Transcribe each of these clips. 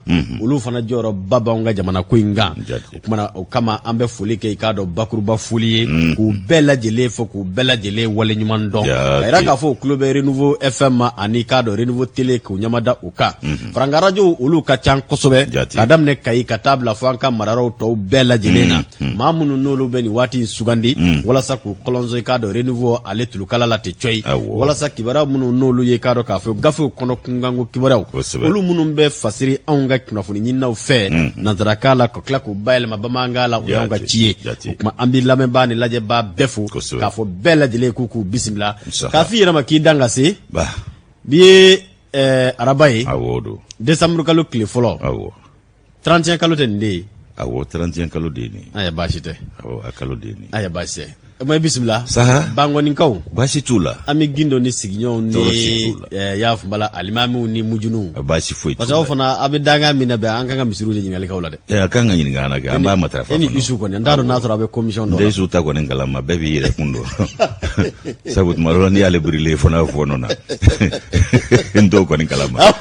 Mhm. olu fana jɔyɔrɔ ba b'anw ka jamana ko in kan o kumana o kama an bɛ foli kɛ i k'a dɔn bakuruba foli ye mhm. k'u bɛɛ lajɛlen fo k'u bɛɛ lajɛlen waleɲuman dɔn ka yira k'a fɔ u tulo bɛ renouveau fm ma ani i k'a dɔn renouveau tele k'u ɲɛmada u kan mhm. faranka arajow olu ka can kosɛbɛ ka daminɛ kayi ka taa bila fo an ka marayɔrɔw tɔw bɛɛ lajɛlen na Hmm. maa minnu n'olu bɛ nin waati in sugandi hmm. walasa k'u kɔlɔnso i k'a dɔn renouveau ale tulukala la tɛ cɔyi walasa kibaruya minnu n'olu ye i k'a dɔn k'a fɔ gafew kɔnɔ kunkanko kibaruyaw olu minnu bɛ fasiri anw ka kunnafoni ɲininaw fɛ hmm. nanzarakan la ka tila k'u bayɛlɛma bamanankan la o y'anw ka ci ye o kuma an bɛ lamɛnbaa ni lajɛbaa bɛɛ fo k'a fɔ bɛɛ lajɛlen k'u k'u bisimila k'a f'i yɛrɛ ma k'i dan ka se bi ye eh, araba ye décembre kalo tile fɔlɔ 31 kalo tɛ nin de ye awɔ 31 kalo de ye nin ye a baasi tɛ awɔ a kalo de ye nin ye a baasi tɛ ma bisimila saha bankoninkaw baasi t'u la an bɛ gindo ni sigiɲɔgɔnw ni eh, y'a fɔbala alimamiw ni mujuniw baasi foyi parce que aw fana a bɛ dankan min na bɛn an kan ka misiriw de ɲininka aw la dɛ eh, a kan ka ɲininka an na kɛ an b'a matarafa e ni isu kɔni n t'a dɔn n'a sɔrɔ a bɛ commission dɔ la isu ta kɔni kalama bɛɛ b'i yɛrɛ kun dɔn sabu tuma dɔ la n'i y'ale birilen fana fɔɔnɔ na n t'o kɔni kalama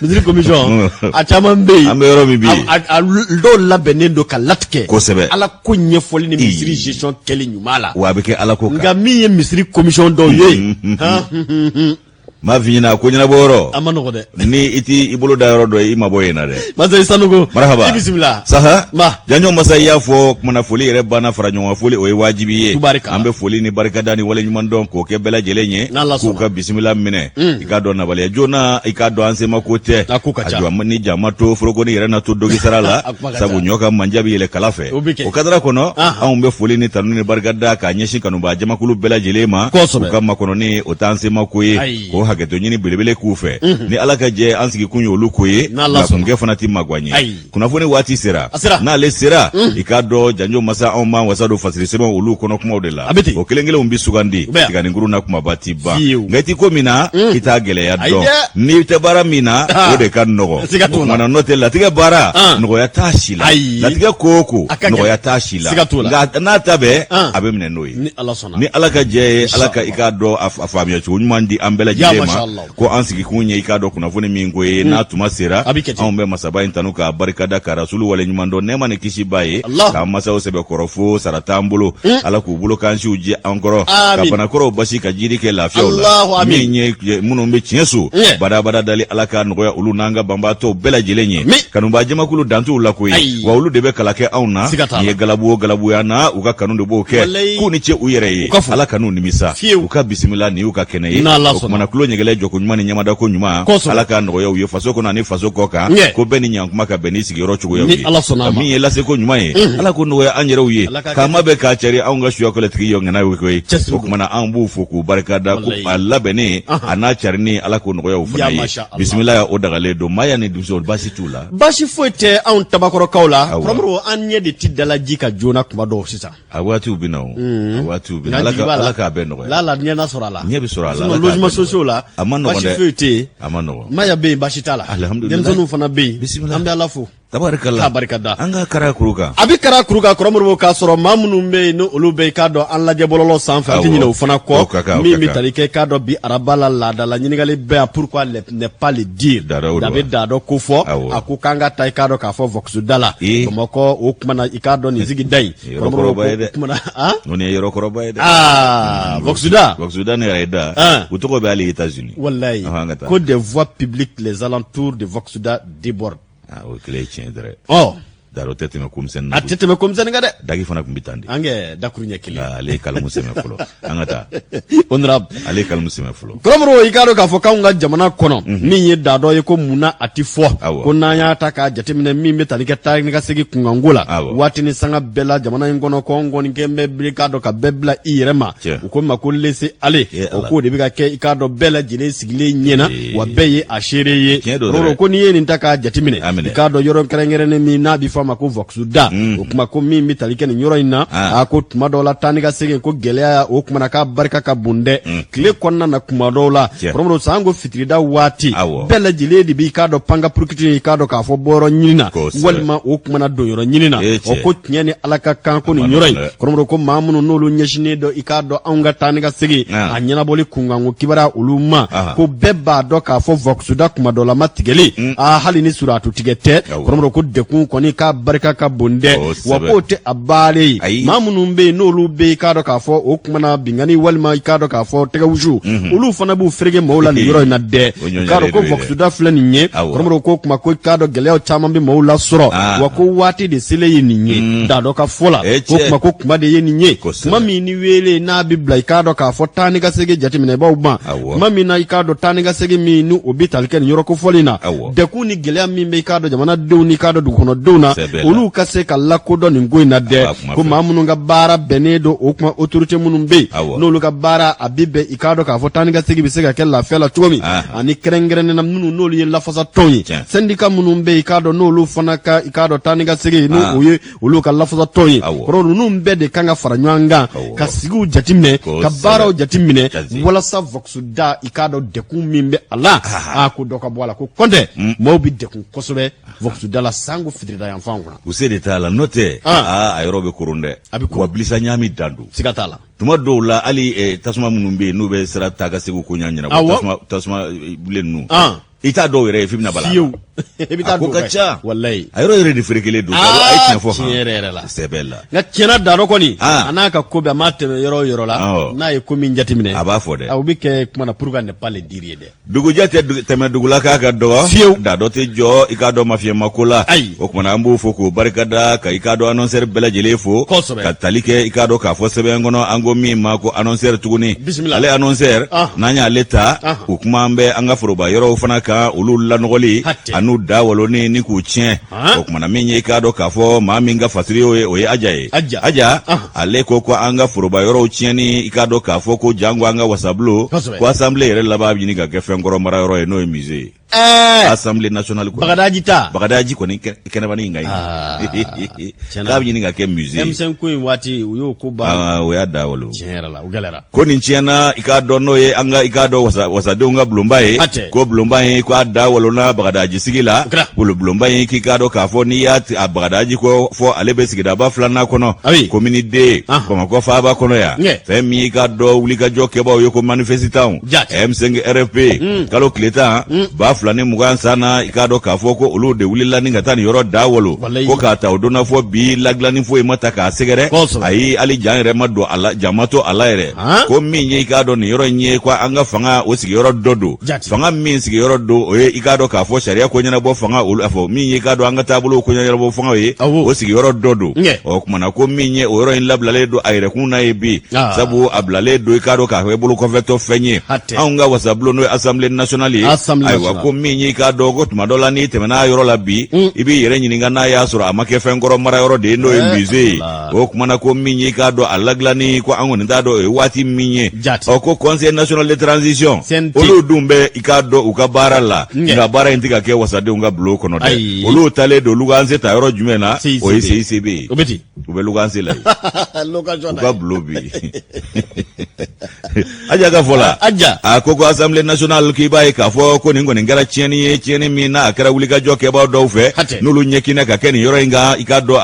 Misiri commission a caman bɛ yen, an bɛ yɔrɔ min bi, a dɔw labɛnnen don ka latigɛ, kosɛbɛ, Ala ko ɲɛfɔli ni misiri gestion kɛli ɲuman la, wa a bɛ kɛ Ala ko kan, nka min ye misiri commission dɔw ye, unhun, m'a f'i ɲɛna ko ɲɛnabɔ yɔrɔ, a ma nɔgɔ dɛ, ni i t'i bolo da yɔrɔ dɔn i mabɔ yen na dɛ, Masa i Sanogo, marahaba, i bisimila, saha, ma, janjo masa i y'a fɔ, kumana foli yɛrɛ banna fara ɲɔgɔn kan foli o ye wajibi ye, tubarikala, an bɛ foli ni barikada ni waleɲuman dɔn k'o kɛ bɛɛ lajɛlen ye, n'Ala sɔnna, k'u ka bisimila minɛ i k'a dɔn nabaliya joona i k'a dɔn an sema ko tɛ a jɔ ni jama to foroko ni yɛrɛ na to dogi sara la sabu ɲɔ ka manja bɛ yɛlɛ kala fɛ o kadara kɔnɔ anw bɛ foli ni tanu ni barika da k'a ɲɛsin kanubaa jamakulu bɛɛ lajɛlen ma u ka makɔnɔni o t'an sema ko ye k'o hakɛto ɲini belebele k'u fɛ ni ala ka jɛ an sigikun ye olu ko ye nka kunkɛ fana tɛ magan ye kunnafoni waati sera n'ale sera i k'a dɔn janjo masa anw b'an wasa don fasiri sɛbɛn olu kɔnɔ kumaw de la o kelen kelenw bɛ sugandi tiganikuru na kumaba tɛ ban nka i tɛ ko min na i t'a gɛlɛya dɔn n'i tɛ baara min na o de ka nɔgɔ o kumana n'o tɛ latigɛ baara nɔgɔya t'a si la latigɛ ko o ko nɔgɔya t'a si la nka n'a ta bɛɛ a bɛ minɛ n'o ye ni ala ka jɛ ye ala ka i k'a dɔn a faamuya cogo ɲuman di an bɛɛ lajɛlen ma ko an sigikun ye i k'a dɔn kunnafoni min ko ye n'a tuma sera anw bɛ masaba in tanu k'a barikada ka rasulu waleɲuman dɔn nɛɛma ni kisi b'a ye k'an masaw sɛbɛkɔrɔ fo sara t'an bolo ala k'u bolo k'an siw jɛ an kɔrɔ ka banakɔrɔw basi ka jiri kɛ lafiyaw la min ye minnu bɛ tiɲɛso badabada dali ala k'a nɔgɔya olu n'an ka banbaatɔw bɛɛ lajɛlen ye kanubaa jamakulu dantuw la ko ye wa olu de bɛ kala kɛ anw na nin ye galabu o galabuya na u ka kanu de b'o kɛ k'u ni ce u yɛrɛ ye ala kan'u nimisa u ka bisimila nin y'u ka kɛnɛ fana ye o kumana kulu ɲɛgɛlɛ jɔko ɲuman ni ɲɛmada ko ɲuman ala ka nɔgɔya u ye faso kɔnɔ ani faso kɔ kan ko bɛɛ ni ɲankuma ka bɛn ni sigiyɔrɔ cogoyaw ye ka min ye laseko ɲuman ye ala k'o nɔgɔya an yɛrɛw ye k'an ma bɛ k'a cari anw ka suyakɔlɛtigi ye ŋana ye koyi o kumana an b'u fo k'u barikada ko a labɛnnen a n'a carinni ala k'o nɔgɔya u fana ye bisimila ya o dagalen don maaya ni dusu baasi t'u la baasi foyi tɛ anw tabakɔrɔkaw la kɔrɔmɔrɔ an ɲɛ de ti dala ji kan joona kuma dɔw sisan a waatiw bɛ na o a waatiw bɛ na Ala ka Ala k'a bɛɛ nɔgɔya lala ɲɛ na sɔrɔ a la ɲɛ bɛ sɔrɔ a la logements sociaux la a man nɔgɔn dɛ baasi foyi tɛ yen a man nɔgɔn maaya bɛ yen baasi t'a la alihamudulila denmisɛnninw fana bɛ yen bisimila an bɛ Ala fo tabarikala k'a barikada an ka kara kuru kan a bɛ kara kuru kan kɔrɔmɔrɔ k'a sɔrɔ maa minnu bɛ yen ni olu bɛ k'a dɔn an lajɛ bɔlɔlɔ sanfɛ an tɛ ɲinɛ o fana kɔ min bɛ tali kɛ k'a dɔn bi araba la laadala ɲininkali bɛ yan pourquoi ne pas le dire da bɛ da dɔ ko fɔ a ko k'an ka taa i k'a dɔn k'a fɔ Vox da la bamakɔ o kumana i k'a dɔn nin sigida in kɔrɔmɔrɔ ko kumana nin ye yɔrɔkɔrɔba ye dɛ aa Vox da Vox da ne yɛrɛ ye da u tɔgɔ bɛ hali États-Unis walayi ko des voies publiques les alentours de Vox da débordent Ah, o kelen ye tiɲɛ dɛrɛ ɔ daro tɛ tɛmɛ ko misɛn a tɛ tɛmɛ ko misɛn kan dɛ daki fana tun bɛ tan de an kɛ dakuru ɲɛ kelen ale ye kalamu sɛmɛ fɔlɔ an ka taa honorable ale ye kalamu sɛmɛ fɔlɔ kɔrɔmɔrɔ i k'a dɔn k'a fɔ k'anw ka jamana kɔnɔ mhm. min ye da dɔ ye ko mun na a tɛ fɔ ko n'an y'a ta k'a jateminɛ min bɛ tali kɛ taa ni ka segin kunkanko la waati ni sanga bɛɛ la jamana in kɔnɔ kɔn kɔni kɛ bɛ biri k'a dɔn ka bɛɛ bila i yɛrɛ ma u k'o ma ko laisser aller o k'o de bɛ ka kɛ i k'a dɔn bɛɛ lajɛlen sigilen ɲɛna wa bɛɛ ye a seere ye kɔrɔmɔrɔ ko n'i ye nin ta k'a jateminɛ i k'a dɔn yɔrɔ kɛrɛnkɛrɛnnen min n'a bɛ fɔ a ma ko Vox da mm. o kuma ko min bɛ tali kɛ nin yɔrɔ in na ah. a ko tuma dɔw la taa ni ka segin ko gɛlɛya o kumana k'a barika ka bon dɛ mm. tile kɔnɔna na kuma dɔw la kɔrɔmɔrɔ sanko fitirida waati bɛɛ lajɛlen de b'i k'a dɔn panga purukiti i k'a dɔn k'a fɔ bɔyɔrɔ ɲini na walima o kumana donyɔrɔ ɲini na o ko tiɲɛ ni ala ka kan ko nin yɔrɔ in kɔrɔmɔrɔ ko maa minnu n'olu ɲɛsinnen don i k'a dɔn anw ka taa ni ka segin a ɲɛnabɔli kunkanko kibara olu ma ko bɛɛ b'a dɔn k'a fɔ Vox da kuma dɔ la ma tigɛli mm. a hali ni suratu tigɛ tɛ kɔrɔmɔrɔ ko dɛkun kɔni k'a barika ka bon dɛ wa k'o tɛ a bali ye maa minnu bɛ yen n'olu bɛ i k'a dɔn k'a fɔ o kumana binkanni walima i k'a dɔn k'a fɔ tɛgɛwusu mm-hmm. olu fana b'u fereke mɔgɔw la nin yɔrɔ in na dɛ k'a dɔn ko Vox da filɛ nin ye kɔrɔmɔrɔ ko kuma ko k'a dɔn gɛlɛyaw caman bɛ maaw lasɔrɔ ah. wa ko waati de selen ye nin ye mm. da dɔ ka fɔ la eh, ko kuma ko kuma de ye nin ye kuma min ni weele n'a bɛ bila i k'a dɔn k'a fɔ taa ni ka segin jateminɛbaaw ma kuma min na i k'a dɔn taa ni ka segin min ni o bɛ tali kɛ nin yɔrɔ kofɔlen na dɛkun ni gɛlɛya min bɛ i k'a dɔn jamanadenw ni k'a dɔn dugukɔnɔdenw na olu ka se ka lakodɔn nin ko in na dɛ ko maa minnu ka baara bɛnnen don o kuma autorité minnu bɛ yen n'olu ka baara a bɛ bɛn i k'a dɔn k'a fɔ taa ni ka segin bɛ se ka kɛ lafiya la cogo min ani kɛrɛnkɛrɛnnena minnu n'olu ye lafasatɔn ye sɛndika minnu bɛ yen i k'a dɔn n'olu fana ka i k'a dɔn taa ni ka segin n'o o ye olu ka lafasatɔn ye ko ninnu bɛɛ de kan ka fara ɲɔgɔn kan ka sigiw jateminɛ ka baaraw jateminɛ walasa vɔkisuda i k'a dɔn dekun min bɛ a la a ko dɔ ka bɔ a la ko kɔntɛ mm. maaw bɛ dekun kosɛbɛ vɔkisuda la sanko fitirida yan fan kɔnɔ u se de t'a la n'o tɛ a yɔrɔ bɛ koron dɛ a bɛ wa bilisa ɲami dan don siga t'a la tuma dɔw la hali eh, tasuma minnu bɛ yen n'u bɛ sira taa ka segin koɲa ɲɛnabɔ Awɔ. tasuma tasuma eh, bilen ninnu An. i t'a dɔw yɛrɛ ye f'i bɛna bala fiyewu i bɛ a taa ko don ka fɛ. ca walayi a yɔrɔ yɛrɛ de ferekelen don Aa, a ye tiɲɛ fɔ tiɲɛ yɛrɛ yɛrɛ la. sɛbɛ la nka tiɲɛna dano kɔni Ah. a n'a ka ko bɛɛ a maa tɛmɛ yɔrɔ o yɔrɔ la Awɔ. n'a ye ko min jateminɛ a b'a fɔ dɛ aw bɛ kɛ kuma na pourquoi ne pas le dire dɛ dugujɛ tɛ tɛmɛ dugu la k'a ka dɔgɔ fiyewu da dɔ tɛ jɔ i k'a dɔn mafiyɛnma ko la ayi o kumana an b'o fo k'o barika da ka i k'a dɔn anɔnsɛri bɛɛ lajɛlen fo kosɛbɛ ka tali kɛ i k'a dɔn k'a fɔ sɛbɛn kɔnɔ an ko min ma ko anɔnsɛri tuguni bisimila ale anɔnsɛri ah. n'an y'ale ta ah. o kuma an bɛ an ka foroba yɔrɔw fana kan olu lanɔgɔli an'u da waloni ni k'u tiɲɛ o kumana min ye i k'a dɔn k'a fɔ maa min ka fatiri y'o ye o ye aja ye aja ale ko ko an ka foroba yɔrɔw tiɲɛni i k'a dɔn k'a fɔ ko janko an ka wasabulon ko asanbile yɛrɛ laban bɛ ɲini ka kɛ fɛn kɔrɔ mara yɔrɔ ye n'o ye mize ye eh! asanbile nasionali kɔnɔ bagadaji ta bagadaji kɔni kɛnɛbani in ka ɲi ah, k'a bɛ ɲini ka kɛ mize ye m5 ko in waati u y'o ko ban ah, o y'a da walo tiɲɛ yɛrɛ la u gɛlɛyara kɔni tiɲɛna i k'a dɔn n'o ye an ka i k'a dɔn wasa wasadenw ka bulonba ye Hatɛ. ko bulonba in ko a da walona bagadaji sigi la O kɛra. bulo bulonba in k'i k'a dɔn k'a fɔ n'i y'a ti- a bagadaji ko fɔ ale bɛ sigidaba filanan kɔnɔ Ah oui. komini deux Ah. bamakɔ faaba kɔnɔ yan Ɲɛ. fɛn min y'i k'a dɔn wulikajɔ kɛbaaw ye ko manifesitanw Jate. m5 rfp kalo tile tan ba fila ni mugan san na i k'a dɔn k'a fɔ ko olu de wulila ni ka taa nin yɔrɔ da walo ko k'a ta o donna fɔ bi ladilanni foyi ma ta k'a sɛgɛrɛ ayi hali jan yɛrɛ ma to a la jan ma to a la yɛrɛ ko min ye i k'a dɔn nin yɔrɔ in ye ko an ka fanga o sigiyɔrɔ dɔ don fanga min sigiyɔrɔ don o ye i k'a dɔn k'a fɔ sariya ko ɲɛnabɔ fanga olu a fɔ min ye i k'a dɔn an ka taabolo ko ɲɛnabɔ fangaw ye o sigiyɔrɔ dɔ don ɔ kumana ko min ye o yɔrɔ in labilalen don a yɛrɛkun na ye bi sabu a bilalen don i k'a dɔn k'a fɔ i bolo kɔfɛtɔ fɛn ye tɛ anw ka wasabulon n'o ye assemblée nationale ye assemblée nationale ayiwa ko min y'i k'a dɔn ko tuma dɔ la n'i tɛmɛna yɔrɔ la bi mm. i b'i yɛrɛ ɲininka n'a y'a sɔrɔ a ma kɛ fɛn kɔrɔ mara yɔrɔ de ye n'o ye eh, musée ye o kumana ko min y'i k'a dɔn a ladilanni ko an kɔni t'a dɔn o ye waati min ye ɔ ko conseil national de transition olu dun bɛ i k'a dɔn u ka baara la nka baara in tɛ ka kɛ wasadenw ka bulon kɔnɔ dɛ olu taalen don luwanse ta yɔrɔ jumɛn na o ye CICB ye u bɛ luganse la ka bulon bi aja ka fɔ la aja a ko ko Assemblée nationale k'i b'a ye k'a fɔ ko nin kɔni kɛra tiɲɛni ye tiɲɛni min n'a kɛra wulikajɔ kɛbaa dɔw fɛ n'olu ɲɛkinɛ ka kɛ nin yɔrɔ in kan i k'a dɔn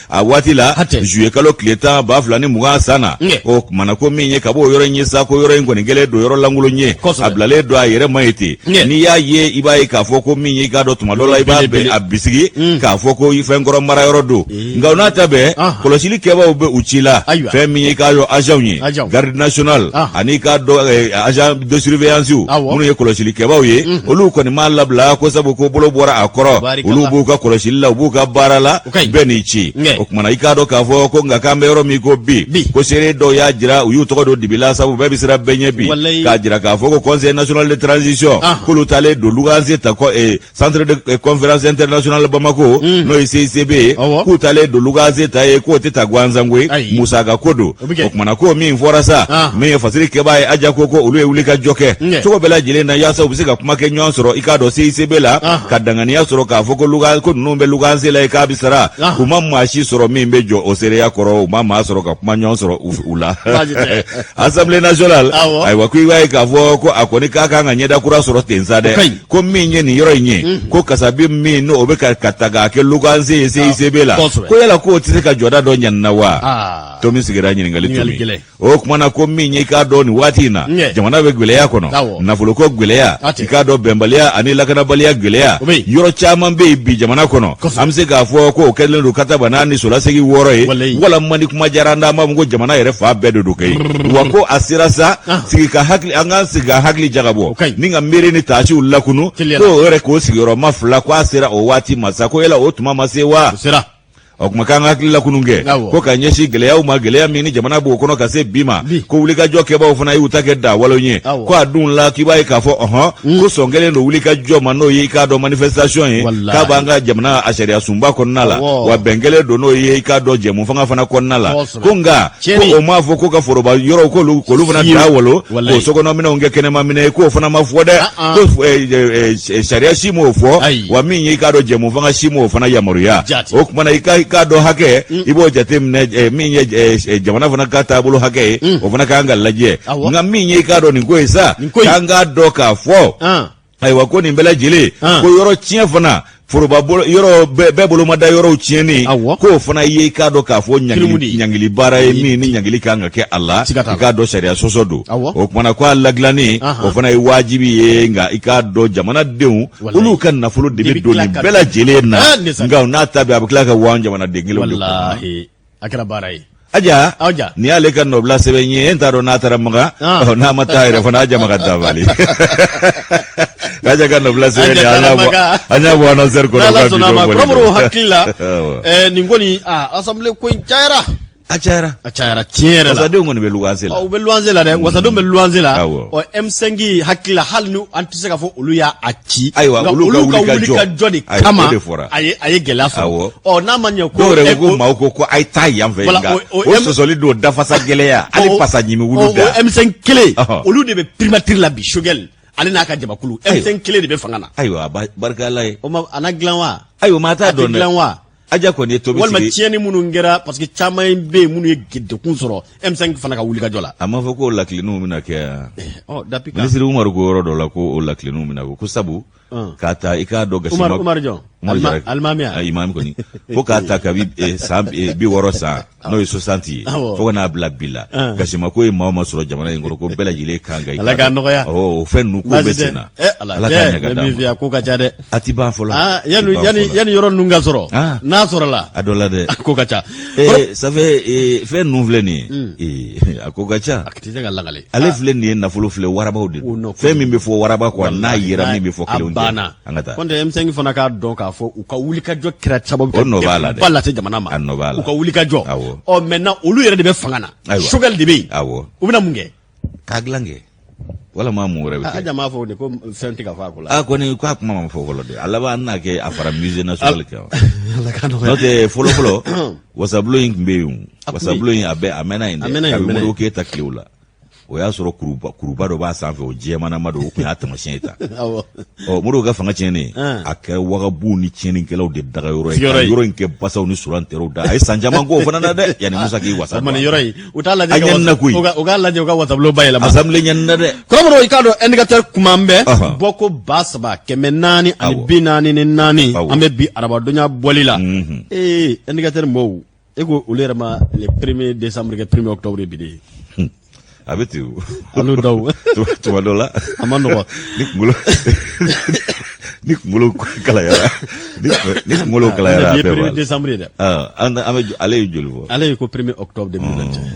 a waati la zuye kalo tile tan ba fila ni mugan san na o kumana ko min ye ka bɔ yɔrɔ in ye sa ko yɔrɔ in kɔni kɛlen don yɔrɔ lankolon ye a bilalen don a yɛrɛ ma ye ten Ɲɛ. n'i y'a ye i b'a ye k'a fɔ ko min y'i k'a dɔn tuma dɔ la i b'a Belebele. bɛ a bisigi Mm. k'a fɔ ko i fɛn kɔrɔ mara yɔrɔ don nka o n'a ta bɛɛ Ah. kɔlɔsili kɛbaaw bɛ u ci la Ayiwa. fɛn min y'i k'a dɔn agents ye Agents. garde nationale Ah. ani i k'a dɔn eh, agent de surveillance Awɔ. minnu ye kɔlɔsili kɛbaaw ye olu kɔni m'a labila ko sabu ko bolo bɔra a kɔrɔ Barikala. olu b'u ka kɔlɔsili la u b'u ka baara la bɛɛ n'i ci o kumana i k'a dɔn k'a fɔ ko nka k'an bɛ yɔrɔ min ko bi ko seere dɔw y'a jira u y'u tɔgɔ don dibila sabu bɛɛ bɛ siran bɛɛ ɲɛ bi k'a jira k'a fɔ ko conseil national de transition ah. k'olu taalen don luganse ta eh, centre de eh, conférence internationale bamako hmm. n'o ye CICB ye k'u taalen don luganse ta yen k'o tɛ ta gansan koyi musaka ko don O bɛ kɛ. O kumana ko min fɔra sa Ah. min ye fasiri kɛbaa ye aja ko ko olu ye wuli ka jɔ kɛ Ɲɛ. cogo bɛɛ lajɛlen na yaasa u bɛ se ka kuma kɛ ɲɔgɔn sɔrɔ i k'a dɔn CICB la Ah. ka danganiya sɔrɔ k'a fɔ ko luga ko ninnu bɛ luganse la yen k'a bɛ sara Ah. u ma maa si sɔrɔ min bɛ jɔ o seereya kɔrɔ u ma maa sɔrɔ ka kuma ɲɔgɔn sɔrɔ u- u la Baasi tɛ. Assemblée nationale Awɔ. ayiwa ko i b'a ye k'a fɔ ko a kɔni ka kan ka ɲɛda kura sɔrɔ ten sa dɛ O ka ɲi. ko min ye nin yɔrɔ in ye ko kasabi min n'o bɛ ka ka ta k'a kɛ luganse ye CICB la kosɛbɛ. ko yala k'o tɛ se ka jɔda dɔ ɲa nin na wa Ah. tomi sigira ɲininkali tomi o kumana ko min ye i k'a dɔn nin waati in na jamana bɛ gwɛlɛya kɔnɔ nafoloko gwɛlɛya i k'a dɔn bɛnbaliya ani lakanabaliya gwɛlɛya yɔrɔ caman bɛ yen bi jamana kɔnɔ an bɛ se k'a fɔ ko o kɛlen don kataba naani solasegi wɔɔrɔ ye walima ni kuma diyara an da an b'a fɔ ko jamana yɛrɛ fan bɛɛ de don kɛ wa ko a sera sa ah. sigi ka hakili an k'an sigi ka hakili jagabɔ ni ka miiri ni taasiw lakunu ko o yɛrɛ k'o sigiyɔrɔma fila ko a sera o waati ma sa ko yala o tuma ma se wa o kuma k'an ka hakili lakunun kɛ Awɔ. ko ka ɲɛsin gɛlɛyaw ma gɛlɛya min ni jamana b'o kɔnɔ ka se bi ma Bi. ko wulikajɔ kɛbaaw fana y'u ta kɛ dawalo ye Awɔ. ko a dun la k'i b'a ye k'a fɔ ɔhɔn ko sɔn kɛlen don wulikajɔ ma n'o ye i k'a dɔn manifestation ye Walahi. k'a b'an ka jamana a sariya sunba kɔnɔna la Awɔ. wa bɛn kɛlen don n'o ye i k'a dɔn jɛmufanga fana kɔnɔna la Kosɛbɛ. ko nka ko o m'a fɔ ko ka foroba yɔrɔw k'olu k'olu fana dawalo k'o sokɔnɔminɛnw kɛ kɛnɛmaminɛn ye k'o fana ma fɔ dɛ ah, ah. ko eh, eh, eh, sariya si m'o fɔ wa min y'i k'a dɔn jɛmufanga si m'o fana yamaruya o kumana i k'a dɔn hakɛ mm. i b'o jate minɛ min ye jamana fana ka taabolo hakɛ ye mm. o fana k'an ka lajɛ nka min ye i k'a dɔn nin ko ye sa k'an k'a dɔn k'a fɔ ah. ayiwa ko nin bɛɛ lajɛlen ko yɔrɔ tiɲɛ fana foroba yɔrɔ bɛɛ bolomada yɔrɔw tiɲɛni k'o fana ye i k'a dɔn k'a fɔ ɲangili baara ye min ni ɲangili kan ka kɛ a la i k'a dɔn sariya sɔsɔ don o kumana ko a ladilanni o fana ye wajibi ye nka i k'a dɔn jamanadenw olu ka nafolo de bɛ don nin bɛɛ lajɛlen na nka n'a ta bɛn a bɛ tila ka wa jamanaden kelen de a kɛra baara ye aja aja ni y'ale ka nɔbila sɛbɛn ye n t'a dɔn n'a taara maka ah. n'a ma taa yɛrɛ fana aja maka taabali aja ka nɔbila sɛbɛn ye an y'a bɔ an y'a bɔ anɔsɛri kɔnɔ ka bi don bɔli kɔrɔbɔrɔ hakili la eh, nin kɔni asanbile ko in cayara a cayara a cayara tiɲɛ yɛrɛ la wasadenw kɔni bɛ luwanse la u bɛ luwanse la dɛ wasadenw bɛ luwanse la ɔ m5 hakili la hali ni an tɛ se k'a fɔ olu y'a a ci ayiwa olu ka wulikajɔ de kama a ye a ye gɛlɛya sɔrɔ ɔ n'a ma ɲɛ ko dɔw yɛrɛ ko maaw ko ko a ye taa yan fɛ nka o sɔsɔli don dafasa gɛlɛya hali pasa ɲimi wulu da o m5 kelen olu de bɛ primatiri la bi sogɛli ale n'a ka jamakulu m5 kelen de bɛ fanga na ayiwa barika ala ye o ma a na dilan wa ayiwa maa t'a dɔn dɛ aja kɔni ye tomi sigi walima tiɲɛni minnu kɛra parce que caman ye bɛ yen minnu ye degun sɔrɔ m5 fana ka wulikajɔ la a m'a fɔ ko ladilanniw bɛna kɛ yan eh, oh, minisiri umaru ko yɔrɔ dɔ la ko o ladilanniw bɛna kɛ ko sabu ah. k'a ta i k'a dɔn gasima umaru jɔn alimami a imami kɔni fo k'a ta kabi eh, san eh, bi wɔɔrɔ san n'o ye sosanti ye fo ka n'a bila bi la gasima ko ye maa o maa sɔrɔ jamana in kɔnɔ ko bɛɛ lajɛlen kan ka ala k'a nɔgɔya o fɛn ninnu ko bɛ sen na eh, ala k'a ɲɛ ka d'a ma ko ka ca dɛ a ti ban fɔlɔ ah, yanni yanni yɔrɔ ninnu ka sɔrɔ ah. n'a sɔrɔla a dɔ la dɛ ko ka ca eh, ça fait eh, fɛn ninnu filɛ nin ye hmm. a ko ka ca a tɛ se ka lakali ale ah. filɛ nin ye nafolo filɛ warabaw de don fɛn min bɛ fɔ waraba kɔ n'a yera min bɛ fɔ kelenw tɛ an ka taa kɔnte M5 fana k'a dɔn k'a fɔ u ka wulikajɔ kɛra sababu o nɔ b'a la dɛ ba lase jamana ma a nɔ b'a la u ka wulikajɔ awɔ ɔ maintenant olu yɛrɛ de bɛ fanga na ayiwa sogɛli de bɛ yen awɔ u bɛna mun kɛ k'a dilan kɛ walama mun wɛrɛ bɛ kɛ aja m'a fɔ dɛ ko fɛn tɛ ka fɔ a ko la a kɔni k'a kuma ma fɔ fɔlɔ dɛ a laban an n'a kɛ a fara musée national kan ala k'a nɔgɔya n'o tɛ fɔlɔ fɔlɔ wasabulon in tun bɛ yen wasabulon in a bɛ a mɛnna yen dɛ a mɛnna yen kabini modibo keyita tilew la o y'a sɔrɔ kuruba kuruba dɔ b'a sanfɛ o jɛmanama don o tun y'a tamasiyɛn ye ta ɔ modibo ka fanga tiɲɛnen a kɛra wagabɔnw ni tiɲɛnikɛlaw de dagayɔrɔ ye ka yɔrɔ in kɛ basaw ni surantɛrɛw da a ye san caman k'o fana na dɛ yanni musa k'i wasa don yɔrɔ in u t'a lajɛ a ɲɛnina koyi u k'a lajɛ u ka wasabulo bayɛlɛma asamble ɲɛnina dɛ kɔrɔbɔrɔ i k'a dɔn ɛndikatɛri kuma bɛ bɔko ba saba kɛmɛ naani ani bi naani ni naani an bɛ bi arabadonya bɔli la ee ɛndikatɛri mɔɔw e ko olu yɛrɛ ma le premier décembre kɛ premier octobre bi de a bɛ ten o olu dɔw tuma dɔ la a ma nɔgɔ ni kunkolo ni kunkolo kalayara ni kunkolo kalayara a bɛɛ b'a la premier décembre ye dɛ an bɛ ale ye joli fɔ ale ye ko premier octobre 2021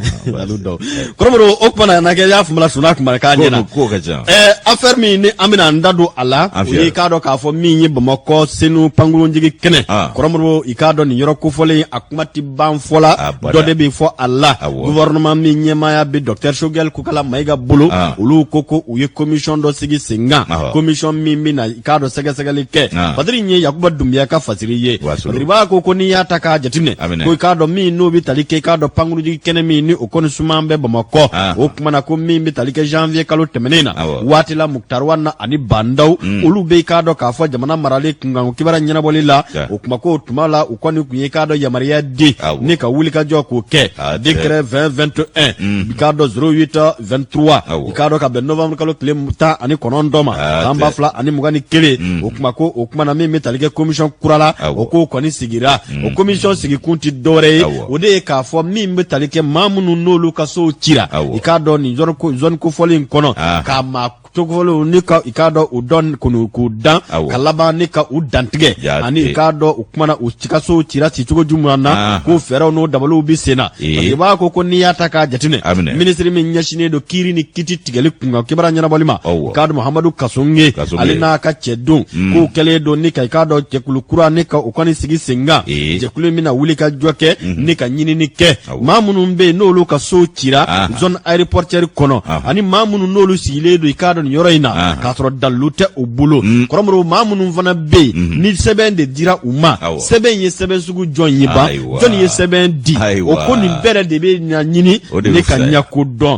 kɔrɔmɔrɔ o kumana na kɛ y'a faamuya sunda tun k'a ɲɛna ko ka ca affaire min ni an bɛna an da don a la o ye k'a dɔn k'a fɔ min ye bamakɔ senu pankurunjigi kɛnɛ kɔrɔmɔrɔ i k'a dɔn nin yɔrɔ kofɔlen a kuma tɛ ban fɔ la dɔ de bɛ fɔ a la gouvernement min ɲɛmaaya bɛ docteur sogɛli kokala mayiga bolo olu ko ko u ye commission dɔ sigi sen kan commission min bɛna i k'a dɔn sɛgɛsɛgɛli kɛ fasiri in ye yakuba dunbiya ka fasiri ye fasiribaa ko ko n'i y'a ta k'a jateminɛ ko i k'a dɔn min n'o bɛ tali kɛ i k'a dɔn pankurunjigi kɛnɛ min ni o kɔni suman bɛ bamakɔ ah. o tuma na ko min bɛ tali kɛ janvier kalo tɛmɛnen na waati la mukutaru wani ani ba ndaw mm. olu bɛ i k'a dɔn k'a fɔ jamana marali kunkan kibara ɲɛnabɔli la o kuma ko o tuma la u kɔni tun ye k'a dɔn yamaruya di ni ka wulikajɔ k'o kɛ ah, décret 2021 mm. i k'a dɔn 08 23 i k'a dɔn ka bɛn novembre kalo tile tan ani kɔnɔntɔn ma ah, san ba fila ani mugan ni kelen mm. o kuma ko o tuma na min bɛ tali kɛ commission kura la o ko kɔni sigira mm. o komisɔn sigikun tɛ dɔwɛrɛ ye o de ye k'a fɔ min bɛ tali kɛ maa minnu n'olu ka sow cira i k'a dɔn nin zɔni kofɔlen in kɔnɔ ah. k'a maa tɔgɔfɔlenw ni ka i k'a dɔn u dɔn kɔni k'u dan ka laban ni ka u dantigɛ ani i k'a dɔn u kumana u ka sow cira ci cogo jumɛn na ah. ko fɛɛrɛw n'o dabaliw bɛ sen na fasiribaa ko ko n'i y'a ta k'a jateminɛ minisiri min ɲɛsinnen don kiiri ni kiti tigɛli kunkan kibara ɲɛnabɔli ma i k'a dɔn Mahamadu Kasoge ale n'a ka cɛdenw mm. k'u kɛlen don ni ka i k'a dɔn jɛkulu kura ni ka u kɔni sigi senkan jɛkulu min bɛna wuli ka jɔ kɛ mm-hmm. ni ka ɲinini kɛ maa minnu bɛ yen n'olu ka sow cira zone aéroportuaire kɔnɔ ani maa minnu n'olu sigilen don i k'a dɔn nin yɔrɔ in na k'a sɔrɔ dalilu tɛ u bolo mm. kɔrɔmɔrɔ maa minnu fana bɛ yen mm-hmm. ni sɛbɛn de dira u ma sɛbɛn in ye sɛbɛn sugu jɔn ye ban jɔn ye sɛbɛn di o ko nin bɛɛ de bɛ ɲɛɲini ni ka ɲɛko dɔn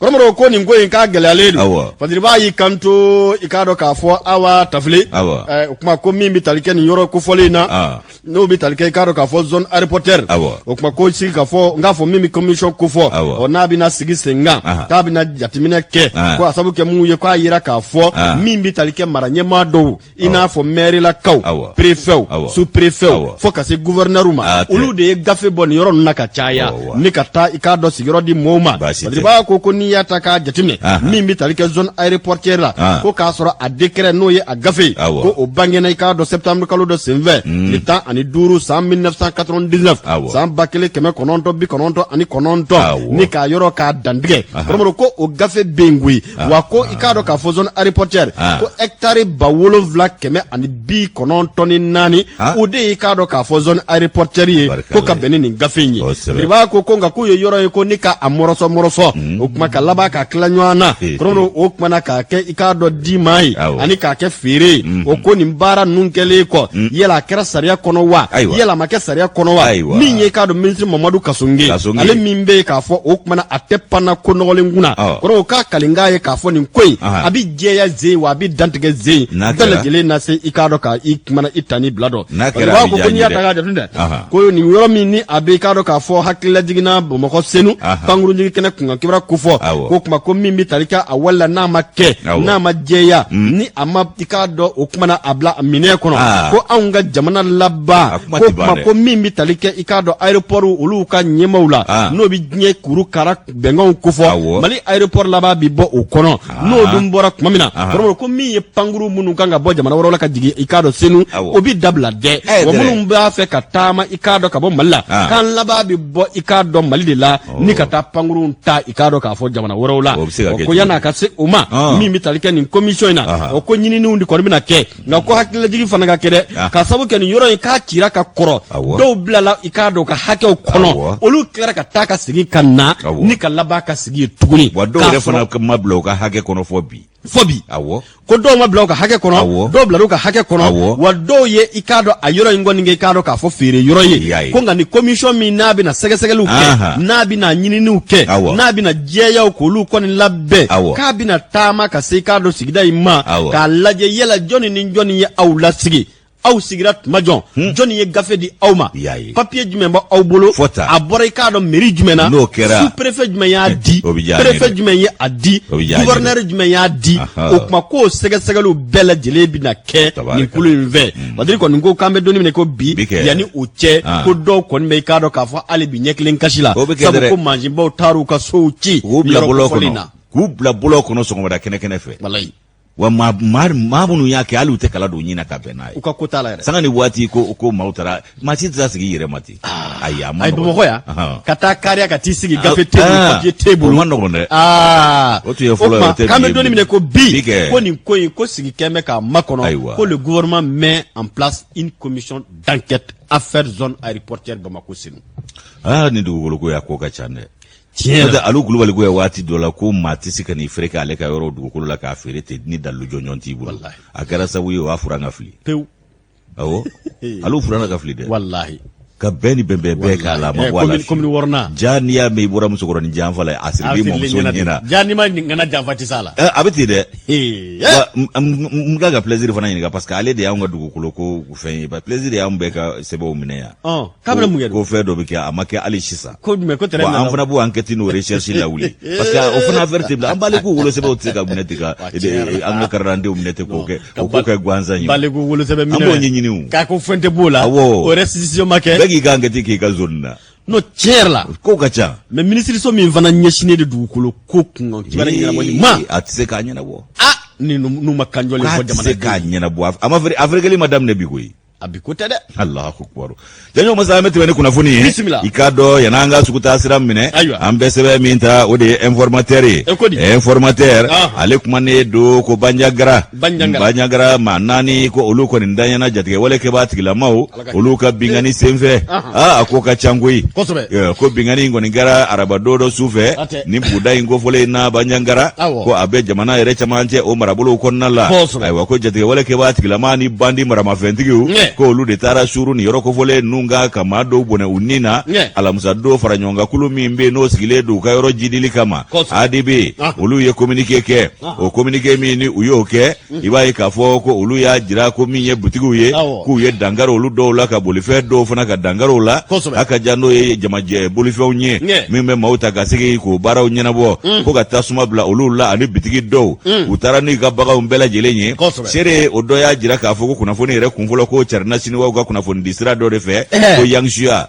Kɔrɔmɔrɔ ko nin ko in k'a gɛlɛyalen don fasiribaa y'i kanto i k'a dɔn k'a fɔ aw tafile o kuma ko min bɛ tali kɛ nin yɔrɔ kofɔlen in na n'o bɛ tali kɛ i k'a dɔn k'a fɔ zone aéroportuaire o kuma ko sigi ka fɔ ni k'a fɔ min bɛ kɔmisɔn kofɔ ɔ n'a bɛna sigi senkan k'a bɛna jateminɛ kɛ ko a sabu kɛ mun ye k'a yira k'a fɔ min bɛ tali kɛ mara ɲɛmaa dɔw i n'a fɔ mɛrilakaw perefɛw superefɛw fo ka se gufɛrɛnɛriw ma olu de ye gafe bɔ nin yɔrɔ ninnu na ka caya ni ka taa i k'a dɔn sigiyɔrɔ di mɔɔw ma fasiribaa ko ko n'i y'a ta k'a jateminɛ min bɛ tali kɛ zone aéroportuaire la ko k'a sɔrɔ a décret n'o ye a gafe ye ko o bangena i k'a dɔn septembre kalo dɔ senfɛ hmm. tile tan ani duuru san 1999 san ba kelen kɛmɛ kɔnɔntɔn bi kɔnɔntɔn ani kɔnɔntɔn ni k'a yɔrɔ k'a dantigɛ kɔrɔmɔrɔ ko o gafe bɛ yen koyi ah. wa ko i k'a dɔn k'a fɔ zone aéroportière ah. ko hectare ba wolonwula kɛmɛ ani bi kɔnɔntɔn ni naani ah. o de ye i k'a dɔn k'a fɔ zone aéroportière ye ko ka bɛn ni nin gafe in ye biriba ko ko nka k'u ye yɔrɔ ye ko ni ka a mɔrɔsɔ mɔrɔsɔ hmm. o tuma ka laban k'a tila ɲɔgɔn na kɔrɔmɔrɔ o tuma na k'a kɛ i k'a dɔn di maa ye ani k'a kɛ feere ye hmm. o ko nin baara ninnu kɛlen kɔ hmm. yala a kɛra sariya kɔnɔ wa yala a ma kɛ sariya kɔnɔ wa min ye i k'a dɔn minisiri mamadu kasoge ale min bɛ yen k'a fɔ o tuma na tɛ panna ko nɔgɔlen kunna kɔrɔ o ka kalikan ye k'a fɔ nin ko in a bɛ jɛya zen wa a bɛ dantigɛ zen bɛɛ lajɛlen na se i k'a dɔn ka i kuma na i ta ni bila dɔn b'a ko n'i y'a ta k'a jateminɛ ko nin yɔrɔ min ni a bɛ k'a dɔn k'a fɔ hakililajiginna bamakɔ senu pankurunjigi kɛnɛ kunkan kibaru kofɔ ko kuma ko min bɛ tali kɛ a wale la n'a ma kɛ n'a ma jɛya hmm. ni a ma i k'a dɔn o kuma na a bila minɛn kɔnɔ ko anw ka jamana laban ko kuma ko min bɛ tali kɛ i k'a dɔn aéroport olu ka ɲɛmaaw la n'o bɛ diɲɛ kuru kara bɛnkanw kofɔ mali aéroport laban bi bɔ o kɔnɔ ah. n'o dun bɔra tuma min na ah. kɔrɔmɔrɔ ko min ye pankurun minnu kan ka bɔ jamana wɛrɛw la ka jigin i k'a dɔn senu o bi dabila dɛ eh, wa minnu b'a fɛ ka taama i k'a dɔn ka bɔ mali la ah. k'an laban bi bɔ i k'a dɔn mali de la oh. ni ka taa pankurunw ta i k'a dɔn k'a fɔ jamana wɛrɛw la o ko yann'a ka se o ma min bɛ tali kɛ nin commission in na o ko ɲininiw de kɔni bɛna kɛ nka ko hakililajigi fana ka kɛ dɛ ah. ka sabu kɛ nin yɔrɔ in k'a cira ka kɔrɔ dɔw bilala i k'a dɔn u ka hakɛw kɔnɔ olu tilara ka taa ka segin ka na ni ka laban ka sigi yen tuguni wa dɔw yɛrɛ fana ma bila u ka hakɛ kɔnɔ fɔ bi fɔ bi awɔ ko dɔw ma bila u ka hakɛ kɔnɔ awɔ dɔw bila u ka hakɛ kɔnɔ awɔ wa dɔw ye i k'a dɔn a yɔrɔ in kɔni kɛ i k'a dɔn k'a fɔ feere yɔrɔ ye ko nka ni commission min n'a bɛna sɛgɛsɛgɛliw kɛ n'a bɛna ɲininiw kɛ n'a bɛna jɛyaw k'olu kɔni labɛn k'a bɛna taama ka se i k'a dɔn sigida in ma k'a lajɛ yala jɔnni ni jɔnni ye aw lasigi aw sigira tuma jɔn hmm. jɔnni ye gafe di aw ma papiye jumɛn b'aw bolo a bɔra i k'a dɔn meri jumɛn na n'o kɛra su perefe jumɛn y'a eh, di perefe jumɛn ye a di guvɛrinɛri jumɛn y'a di o tuma k'o sɛgɛsɛgɛliw bɛɛ lajɛlen bɛna kɛ nin kulu in fɛ hmm. Badiri kɔni ko k'an bɛ don min na i ko bi yanni o cɛ ah. ko dɔw kɔni bɛ i k'a dɔn k'a fɔ hali bi ɲɛ kelen kasi la sabu ko mansinbaw taar'u ka sow ci yɔrɔ kofɔlen na k'u bila bɔlɔn kɔnɔ sɔgɔmada kɛnɛ kɛnɛ fɛ walayi wa maa maa minnu y'a kɛ hali u tɛ kala don ɲin na ka bɛn n'a ye u ka ko t'a la yɛrɛ sanga ni waati ko ko maaw taara maa si tɛ se ka sigi i yɛrɛ ma ten Ah, ayi a man nɔgɔn bamakɔ yan Ahan. ka taa kariya ka t'i sigi gafe t'i bolo Ah, papiye t'i bolo o man nɔgɔn dɛ aa O tun ye fɔlɔ ye, tuma o tɛ k'an bi bɛ ye don bilen. min na i ko bi Bi kɛ. ko nin ko in ko sigi k'an bɛ k'a makɔnɔ Ayiwa. ko le gouvernement met en place une commission d'enquête affaire zone aéroportière Bamako Senu aa ni dugukolo ko y'a ko ka ca dɛ tiɲɛ N'o tɛ, alu kulubali ko yan waati dɔ la ko maa tɛ se ka n'i feere k'ale ka yɔrɔ dugukolo la k'a feere ten ni dalu jɔnjɔn t'i bolo Walahi. a kɛra sabu ye o y'a fura ka fili pewu awɔ ale fana ka fili dɛ walahi ka bɛɛ ni bɛnbɛn bɛɛ k'a la ma bɔ a la komi wɔrɔna ja n'i y'a mɛn i bɔra musokɔrɔnin janfa la a siri b'i mɔmuso ɲɛna ja n'i ma ŋana janfa tɛ s'a la a bɛ ten dɛ n ka ka plaisir fana ɲininka parce que ale de y'anw ka dugukolo ko fɛn ye ba plaisir y'anw bɛɛ ka sɛbɛnw minɛ yan k'a bɛna mun kɛ ko fɛn dɔ bɛ kɛ a ma kɛ hali sisan ko jumɛn ko tɛrɛ an fana b'o enquête n'o recherche lawuli parce que o fana affaire tɛ bila an baliku wolosɛbɛnw tɛ se ka minɛ ten ka an ka karidantew minɛ ten k'o kɛ ka o ko kɛ gansan ye baliku wolosɛbɛn minɛ an b'o ɲɛɲini o k'a ko fɛn tɛ b'o la awɔ o restitution ma kɛ bɛɛ k'i ka enquête k'i ka zone na n'o tiɲɛ yɛrɛ la ko ka ca mais minisiriso min fana ɲɛsinnen de dugukolo ko kunkan kibaru ɲɛnabɔli ma a tɛ se k'a ɲɛnabɔ a ni n'u ma kanjɔlen fɔ jamana k'a tɛ se k'a ɲɛnabɔ a ma afɛrikɛli ma daminɛ bi koyi a bi ko tɛ dɛ alahu akibaru janjo masa an bɛ tɛmɛ ni kunnafoni ye bisimila i k'a dɔn yan'an ka sugu taa sira minɛ ayiwa an bɛ sɛbɛn min ta o de ye informatɛri ye e ko di informatɛri ah. ale kumanen don ko banjagara banjagara maa naani ko olu kɔni danyana jatigɛ wale kɛbaa tigilamaw olu ka binkanni eh. senfɛ ah. Ah, a ko ka ca koyi ko binkanni in kɔni kɛra arabadon dɔ su fɛ ni buguda in kofɔlen in na banjagara ko a bɛ jamana yɛrɛ camancɛ o marabolow kɔnɔna la ayiwa ko jatigɛwale kɛbaa tigilama ni bandi maramafɛntigiw ko olu de taara suuru ni yɔrɔ kofɔlen ninnu kan ka maa dɔw bɔnɛ u ni na alamisa don faraɲɔgɔnkankulu min bɛ n'o sigilen don u ka yɔrɔ jidili kama adb olu ye kominike kɛ o kominike min ni u y'o kɛ i b'a ye k'a fɔ ko olu y'a jira ko min ye butigiw ye k'u ye dankari olu dɔw la ka bolifɛn dɔw fana ka dankari u la a ka ja n'o ye jamajɛ bolifɛnw ye min bɛ maaw ta ka segin k'o baaraw ɲɛnabɔ hmm. ko ka tasuma bila olu la ani bitigi dɔw hmm. u taara n'u ka baganw bɛɛ lajɛlen ye seere o dɔ y'a jira k'a fɔ ko kunnafoni yɛrɛ kunfɔlɔ ko carinna siniwaw ka kunnafonidi sira dɔ de fɛ ko yansuya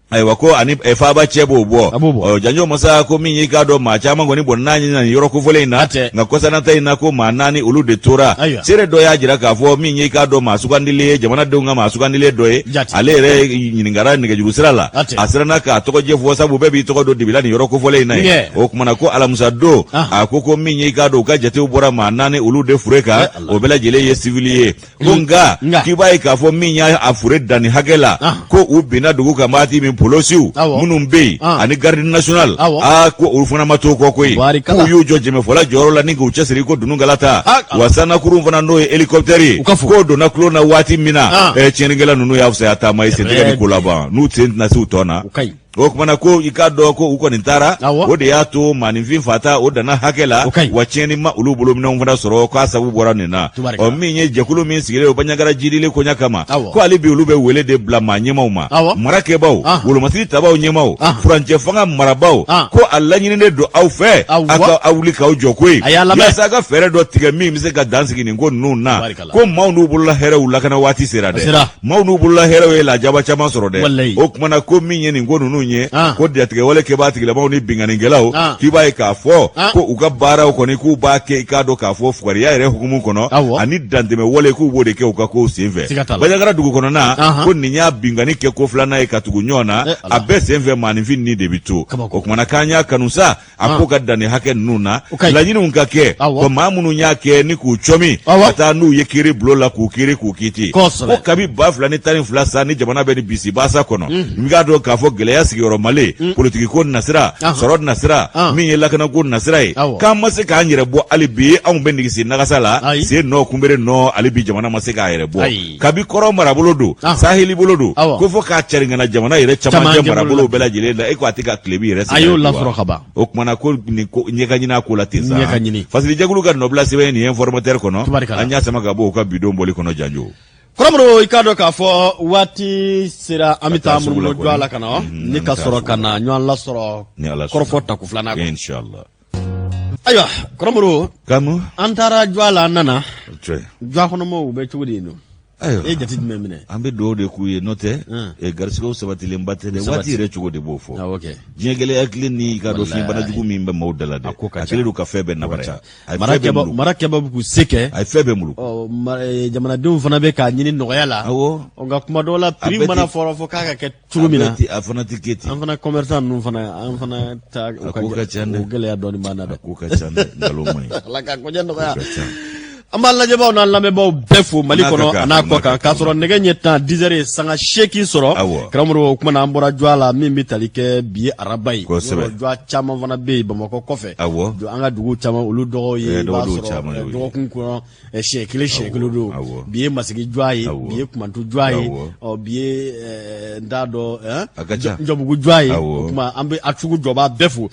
ayiwa ko ani eh, faaba cɛ b'o bɔ A b'o bɔ. Ɔ, janjo masa ko min y'i k'a dɔn maa caman kɔni bɔnɛna u ni na nin yɔrɔ kofɔlen in na A tɛ. nka kɔsanata in na ko maa naani olu de tora Ayiwa. seere dɔ y'a jira k'a fɔ min y'i k'a dɔn maa sugandilen ye jamanadenw ka maa sugandilen dɔ ye Jate. ale yɛrɛ ɲininkara nɛgɛjuru sira la A tɛ. a siranna k'a tɔgɔjɛ fɔ sabu bɛɛ b'i tɔgɔ don dibi la nin yɔrɔ kofɔlen in na ye Ɲɛ. o kumana ko alamisa don Ahan. a ko ko min y'i k'a dɔn u ka jatew bɔra maa naani olu de fure kan Eh, Ala. o bɛɛ lajɛlen ye sivili ye ko nka nka. k'i b'a ye k'a fɔ min y'a fure danni hakɛ la Ah. ko u binna dugu kan waati min polosiw Awɔ. minnu bɛ yen Ah. ani garde national Awɔ. aa ko olu fana ma to kɔ koyi Barikala. k'u y'u jɔ jɛmɛfɔla jɔyɔrɔ la ni k'u cɛsiri ko dunukala ta Ah, ah. wa sannakurun fana n'o ye hélicoptère ye U ka fo. k'o donna tulon na waati min na Ah. eh, tiɲɛnikɛla ninnu y'a fisaya taama ye sentɛgɛ ni ko laban n'u sen tɛna se u tɔ na U ka ɲi o kumana ko i k'a dɔn ko u kɔni taara o de y'a to maaninfin fata o danna hakɛ la wa tiɲɛni ma olu bolo minɛnw fana sɔrɔ k'a sabu bɔra nin na ɔ min ye jɛkulu min sigilen o banjagara jidili koɲa kama ko hali bi olu bɛ wele de bila maa ɲɛmaw ma marakɛbaw ah. wolomasiri tabaw ɲɛmaw ah. furancɛ fanga marabaw ah. ko a laɲininen don aw fɛ a ka aw wuli k'aw jɔ koyi yasa a ka fɛɛrɛ dɔ tigɛ min bɛ se ka dan sigi nin ko ninnu na ko maaw n'u bolola hɛrɛw lakana waati sera dɛ maaw n'u bolola hɛrɛw ye lajaba caman sɔrɔ dɛ o kuma na ko min ye nin ko ninnu ye ko jatigɛwale kɛbaa tigilamaw ni binkannikɛlaw k'i b'a ye k'a fɔ ko u ka baaraw kɔni k'u b'a kɛ i k'a dɔn k'a fɔ fugariya yɛrɛ hukumu kɔnɔ ani dantɛmɛwale k'u b'o de kɛ u ka kow senfɛ baɲagara dugu kɔnɔna ko nin y'a binkanni kɛko filanan ye ka tugu ɲɔgɔn na a bɛɛ senfɛ maaninfin ni de bɛ to o kuma na k'an y'a kanu sa a ko ah. ka danni hakɛ ninnu na laɲiniw ka kɛ ko maa minnu y'a kɛ ni k'u cɔmi ka taa n'u ye kiiri bulon la k'u kiiri k'u kiti ko kabi ba fila ni tan ni fila sa ni jamana bɛ nin bisibasa kɔnɔ mhm. i k'a dɔn k'a fɔ gɛlɛya sigiyɔrɔ male mhm. politikiko nasira sɔrɔ nasira ah. min ye lakanako nasira ye k'an ma se k'an yɛrɛ bɔ hali bi anw bɛ nigisi nagasa la sen nɔ kunbere nɔ hali bi jamana ma se k'a yɛrɛ bɔ kabi kɔrɔn marabolo don saheli bolo don ko fo k'a cɛrin ka na jamana yɛrɛ camancɛ marabolo bɛɛ lajɛlen la e ko a tɛ ka tilebin yɛrɛ a y'o lasɔrɔ ka ban o kuma na ko nin ɲɛka ɲin'a ko la ten sa ɲɛka ɲini fasilejɛkulu ka nɔbila sɛbɛn nin informateur kɔnɔ an y'a sama ka bɔ u ka bi don bɔli kɔnɔ janjo kɔrɔmɔrɔ i k'a dɔn k'a fɔ waati sera an bɛ taa munumunu jɔ a la ka na ni ka sɔrɔ ka na ɲɔgɔn lasɔrɔ kɔrɔfɔ tako filanan ayiwa kɔrɔmɔrɔ an taara jɔ la an nana jɔ kɔnɔmaaw bɛ cogo di yen ayiwa e jate jumɛn minɛ an bɛ dugawu de k'u ye n'o tɛ garisigɛw sabatilenba tɛ dɛ waati yɛrɛ cogo de b'o fɔ diɲɛ gɛlɛya kɛlen i k'a dɔn fiɲɛbana jugu min bɛ maaw da la dɛ a kɛlen don ka fɛn bɛɛ nabara marakɛbaa bɛ k'u se kɛ a ye fɛn bɛɛ bolo jamanadenw fana bɛ k'a ɲini nɔgɔya la nka kuma dɔw la prix mana fɔlɔ fɔ k'a ka kɛ cogo min na a fana tɛ kɛ ten an fana commerçant ninnu fana an fana ta u ka ko ka ca dɛ o gɛlɛya dɔɔni b'an na dɛ ko ka ca dɛ nkalon man ɲi ala ka koɲɛ nɔgɔya an b'an lajɛbaaw n'an lamɛnbaaw bɛɛ fo mali kɔnɔ an'a kɔkan k'a sɔrɔ nɛgɛ ɲɛ tan dizɛri ye sanga seegin sɔrɔ karamɔgɔ o kuma na an bɔra jɔ la min bɛ tali kɛ bi ye araba ye jɔ caman fana bɛ yen bamakɔ kɔfɛ an ka dugu caman olu dɔgɔw ye i b'a sɔrɔ dɔgɔkun kɔnɔ siɲɛ kelen siɲɛ kelen don bi ye masigi jɔ ye bi ye kumantu jɔ ye bi ye n t'a dɔnbugu jɔ ye o tuma an bɛ a sugujɔbaa bɛɛ fo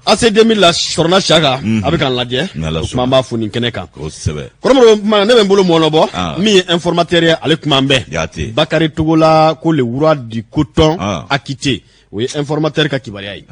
ACI deux mille la sɔrɔna saka a bɛ k'an lajɛ o tuma an b'a fo nin kɛnɛ kan ne bɛ n bolo mɔɔnɔbɔ min ye informateur ye ale kuma bɛ bakari togola ko le roi du coton acquitté o ye informateur ka kibaruya ye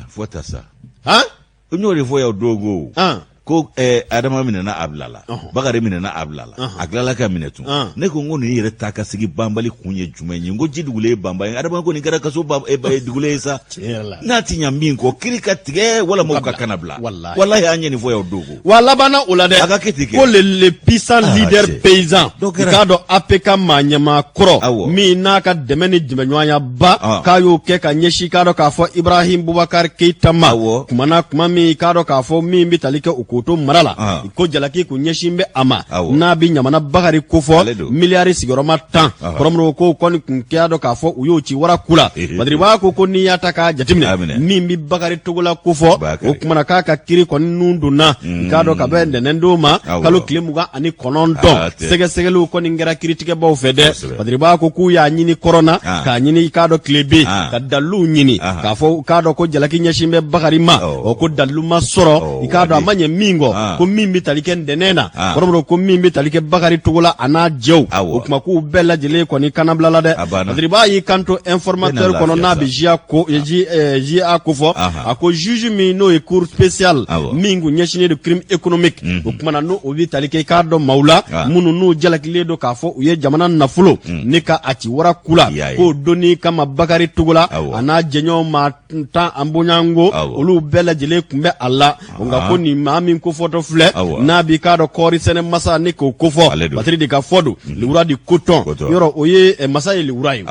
n y'o de fɔ yan don ko An. ko eh, adama minɛna a bilala Ɔhɔn. bakari minɛna a bilala Ɔhɔn. a tilala ka minɛ tun Ɔn. ne ko n ko nin yɛrɛ taa ka segin banbali kun ye jumɛn ye n ko ji dugulen ye banba ye adama ko nin kɛra kaso ba- eh, ba- eh, dugulen ye sa Tiɲɛ yɛrɛ la. n'a tɛ ɲa min kɔ kiri ka tigɛ walama u ka kana bila Walahi. walahi an ye nin fɔ yan don ko wa a labanna o la dɛ A ka kɛ ten kɛ. ko le le puissant Ah, leader cɛ. paysan Dɔ i kɛra. k'a dɔn apcam ɲɛmaa kɔrɔ Awɔ. min n'a ka dɛmɛ ni jɛmɛɲɔgɔnya ba Ah. k'a y'o kɛ ka ɲɛsin k'a dɔn k'a fɔ ibrahim bubakar keyita ma Awɔ. kumana kuma min k'a dɔn k'a fɔ min bɛ tali kɛ o kotɔn mara la Ah. ko jalaki kun ɲɛsin bɛ a ma Awɔ. n'a bɛ ɲamana bakari ko fɔ Ale don. miliyari sigiyɔrɔma tan Aha. kɔrɔmɔrɔw ko kɔni kun k'a dɔn k'a fɔ u y'o ci wara ku la Ehe. badiriba ko ko n'i y'a ta k'a A jateminɛ minɛ. min bɛ bakari togola ko fɔ Bakari. o kumana k'a ka kiri kɔni nun donna k'a dɔn ka bɛn ntɛnɛndon ma Awɔ. kalo tile mugan ani kɔnɔntɔn Ah, tɛ. sɛgɛsɛgɛliw kɔni kɛra kiritigɛbaw fɛ dɛ Kosɛbɛ. Badriba ko k'u y'a ɲini kɔrɔnna ah. k'a ɲini i k'a dɔn tile bɛ ah. ka daliluw ɲini ah. k'a fɔ u k'a dɔn ko jalaki ɲɛsin bɛ Bakari ma oh. ɔ ko dalilu ma sɔrɔ oh, i k'a dɔn a ma ɲɛ min kɔ ko min bɛ tali kɛ ntɛnɛn na kɔrɔmɔrɔ ko min bɛ tali kɛ Bakari Togola a n'a jɛw o kuma k'u bɛɛ lajɛlen kɔni kanabilala dɛ Badriba y'i kanto informateur kɔnɔ n'a bɛ JA ko fɔ a ko juge min n'o ye cour spéciale min kun ɲɛsinnen don crime économique o kumana n'o o bɛ tali kɛ i k'a dɔn maaw la ah. minnu n'u jalakilen don k'a fɔ u ye jamana nafolo hmm. ni ka a ci wara ku la k'o donni kama bakari togola a n'a jɛɲɔgɔn maa tan an bonyanko olu bɛɛ lajɛlen tun bɛ a la ah. nka ko nin maa min kofɔtɔ filɛ n'a b'i k'a dɔn kɔɔri sɛnɛ masa ni k'o kofɔ batiri de ka fɔ don hmm. le roi du coton yɔrɔ o ye eh, masa ye le roi ye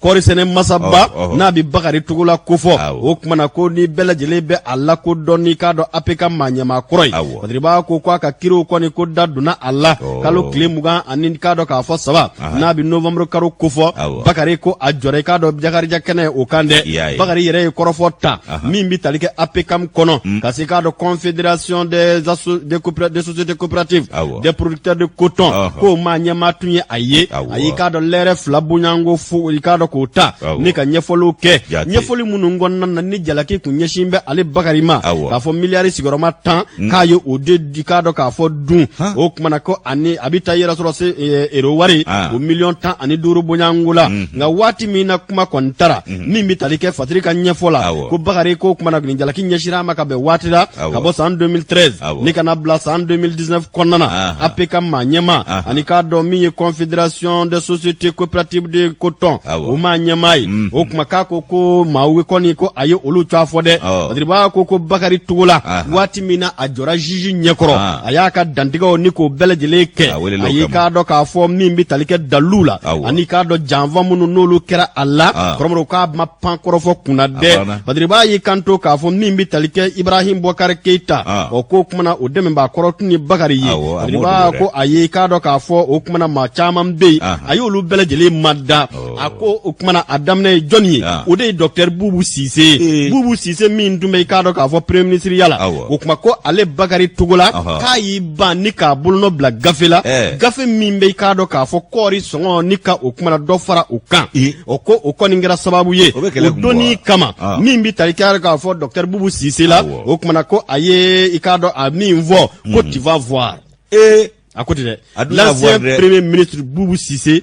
kɔɔri sɛnɛ masaba Ɔhɔ, ɔhɔ. n'a bɛ bakari togola ko fɔ Awɔ. o kumana ko ni bɛɛ lajɛlen bɛ a lakodɔn n'i k'a dɔn apcam maa ɲɛmaa kɔrɔ ye Awɔ. badiriba ko ko a ka kiriw kɔni ko da donna a la Ɔɔ. kalo tile mugan ani k'a dɔn k'a fɔ saba Aha. n'a bɛ novembre karo ko fɔ Awɔ. bakari ko a jɔra i k'a dɔn jakarija kɛnɛ o kan I y'a dɛ ye. bakari yɛrɛ ye kɔrɔfɔ ta Aha. min bɛ tali kɛ apcam kɔnɔ ka se k'a dɔn confédération des asso- des coopéra- des sociétés coopératives Awɔ. D'accord. des producteurs de coton Ɔhɔ. k'o maa ɲɛmaa tun ye a ye Awɔ. a y'i k'a dɔn lɛrɛ fila bonyanko fo i k'a dɔn k'o ta Awɔ. ni ka ɲɛfɔliw kɛ Jate. ɲɛfɔli minnu kɔnɔna na ni jalaki kun ɲɛsin bɛ ale bakari ma Awɔ. k'a fɔ miliyari sigiyɔrɔma tan k'a ye o de i k'a dɔn k'a fɔ dun Han. o kumana ko ani a bɛ taa yɛrɛ sɔrɔ se eh, euro wari Ah. o miliyɔn tan ani duuru bonyanko la nka waati min na kuma kɔni tara min bɛ tali kɛ badiri ka ɲɛfɔ la ko bakari ko kumana ni jalaki ɲɛsira a ma ka bɛn waati la ka bɔ san 2013 ni ka n'a bila san 2019 kɔnɔna na apcam maa ɲɛmaa ani k'a dɔn min ye confédération des sociétés coopératives de coton o maa ɲɛmaa ye mm. o kuma k'a ko ko maaw kɔni ko a ye olu cɔ fɔ dɛ badiriba ko ko bakari togola waati min na a jɔra juge ɲɛkɔrɔ ah. a y'a ka dantigɛw ni k'o bɛɛ lajɛlen kɛ ah, a y'i k'a dɔn k'a fɔ min bɛ tali kɛ dalilu la ah, ani k'a dɔn janfa minnu n'olu kɛra a la kɔrɔmɔrɔ k'a ma pan kɔrɔfɔ kunna dɛ badiriba y'i kanto k'a fɔ min bɛ tali kɛ ibrahim bɔkari keyita o ko kumana o dɛmɛbaa kɔrɔ tun ye bakari ye badiriba ko a y'i k'a dɔn k'a fɔ o kumana maa caman bɛ yen a y'olu bɛɛ lajɛlen mada a ko o kumana a daminɛ ye jɔnni ye o de ye docteur bubu sise bubu sise min tun bɛ i k'a dɔn k'a fɔ premier ministre ya la o kuma ko ale bakari togola k'a y'i ban ni k'a bolonɔ bila gafe la gafe min bɛ i k'a dɔn k'a fɔ kɔɔri sɔngɔ ni ka o kumana dɔ fara o kan o ko o kɔni kɛra sababu ye o donni kama min bɛ tali kɛ k'a fɔ docteur bubu sise la o kumana ko a ye i k'a dɔn a min fɔ ko tu vas voir a ko ten dɛ l'ancien premier ministre bubu sise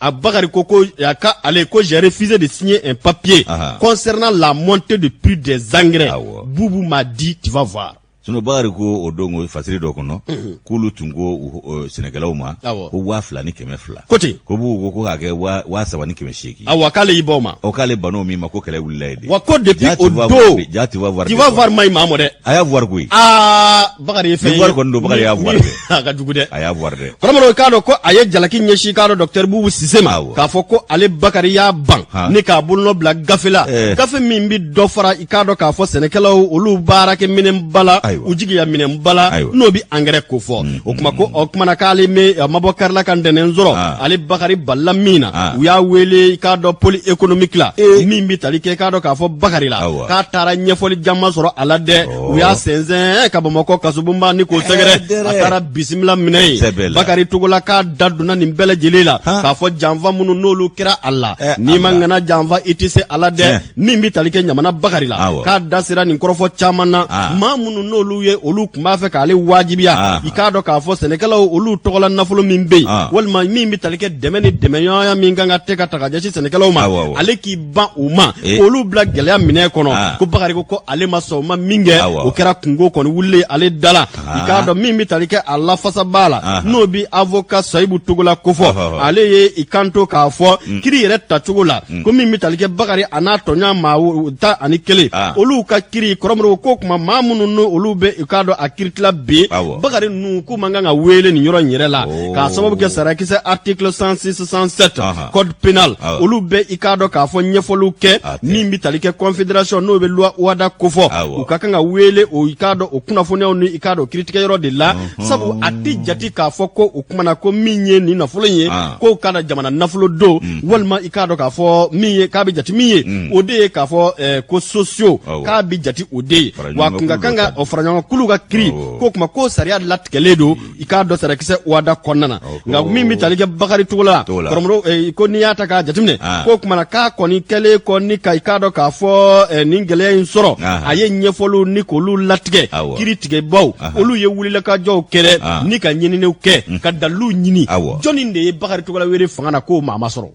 A Bakari ko ko a ka ale ko j'ai refusé de signer un papier Aha. concernant la montée de prix des engrais. Awɔ. Boubou m'a dit tu vas voir. sinɔn bakari ko o don ko fasiri dɔ kɔnɔ k'olu tun ko u- ɔ, sɛnɛkɛlaw ma Awɔ. ko waa fila ni kɛmɛ fila Ko ten. ko Bubu ko ko k'a kɛ waa- waa saba ni kɛmɛ seegin Awa k'ale y'i ban o ma. o k'ale bana o min ma ko kɛlɛ wulila yen de Wa ko depuis Ja, tu o vas voir don de, ja tu vas voir tu de vas quoi. voir maɲi maa mɔ dɛ. a y'a voir koyi Aa Bakari ye fɛn ye. Voir kɔni don Bakari y'a voir dɛ. A ka jugu dɛ. A y'a voir dɛ. Kɔrɔmɔrɔ i k'a dɔn ko a ye jalaki ɲɛsin k'a dɔn docteur Bubu Sise ma. K'a fɔ ko ale Bakari y'a ban ni k'a bolonɔ bila gafe la. Gafe min bɛ dɔ fara i k'a dɔn k'a fɔ sɛnɛkɛlaw olu baarakɛminɛnba la. U jigiya minɛnba la. N'o bɛ angɛrɛ kofɔ. O kuma ko o kumana k'ale mɛ a ma bɔ kari la ka ntɛnɛn sɔrɔ. Ale Bakari banna min na. U y'a wele i k'a dɔn pôle économique la. Min bɛ tali kɛ i k'a dɔn k'a fɔ Bakari la. K'a taara ɲɛfɔli caman sɔrɔ a la dɛ. u y'a sɛnsɛn ka bamakɔ kasobonba ni k'o sɛgɛrɛ a taara bisimila minɛ yen bakari togola k'a da donna nin bɛɛ lajɛlen la k'a fɔ janfa minnu n'olu kɛra a la n'i ma ŋana janfa i tɛ se a la dɛ min bɛ tali kɛ ɲamana bakari la k'a da sera nin kɔrɔfɔ caman na maa minnu n'olu ye olu tun b'a fɛ k'ale wajibiya i k'a dɔn k'a fɔ sɛnɛkɛlaw olu tɔgɔla nafolo min bɛ yen walima min bɛ tali kɛ dɛmɛ ni dɛmɛɲɔgɔnya min kan ka tɛ ka ta ka ɲɛsin sɛnɛkɛlaw ma ale k'i ban o ma eh. olu bila gɛlɛya minɛ kɔnɔ ah. ko bakari ko ko ale ma sɔn o ma min kɛ o kɛra kunko kɔni wulilen ye ale da la ah. i k'a dɔn min bɛ tali kɛ a lafasabaa la ah. n'o bɛ avoka sayibu togola kofɔ ale ye i kanto k'a fɔ mm. kiri yɛrɛ tacogo la mm. ko min bɛ tali kɛ bakari a n'a tɔɲɔgɔn maa tan ani kelen olu ka kiri kɔrɔmɔrɔ ko kuma maa minnu n'olu bɛ i k'a dɔn a kiritila bi bakari ninnu k'u man kan ka wele nin yɔrɔ in yɛrɛ la oh. k'a sababu kɛ sariyakisɛ article 106 107 code pénal ah. olu bɛ i k'a dɔn k'a fɔ ɲɛfɔliw kɛ ah, min bɛ tali kɛ confédération n'o bɛ loi OHADA kofɔ ah, u ka kan ka wele o i k'a dɔn o kunnafoniyaw ni i k'a dɔn kiritigɛ yɔrɔ de la sabu a tɛ jate k'a fɔ ko o kumana ko min ye nin nafolo ye k'o k'a dɔn jamana nafolo don mm. walima i k'a dɔn k'a fɔ min ye k'a bɛ jate min ye mm. o de ye k'a fɔ eh, ko sociaux k'a bɛ jate o de ye wa kun ka kan ka faraɲɔgɔnkulu ka kiri k'o kuma k'o sariya latigɛlen don i k'a dɔn sarakisɛ OHADA kɔnɔna na nka min bɛ tali kɛ bakari togola kɔrɔbɔrɔ eh, ko n'i y'a ta k'a jateminɛ ah. ko kumana k'a kɔni kɛlen kɔ ni ka i k'a dɔn k'a fɔ eh, nin gɛlɛya in sɔrɔ ah. a ye ɲɛfɔliw ni k'olu latigɛ kiri tigɛbaw olu ye wulikajɔw kɛ ah. ni ka ɲininiw kɛ mm. ka daliluw ɲini jɔnni de ye bakari togola wele fanga na k'o maa ma sɔrɔ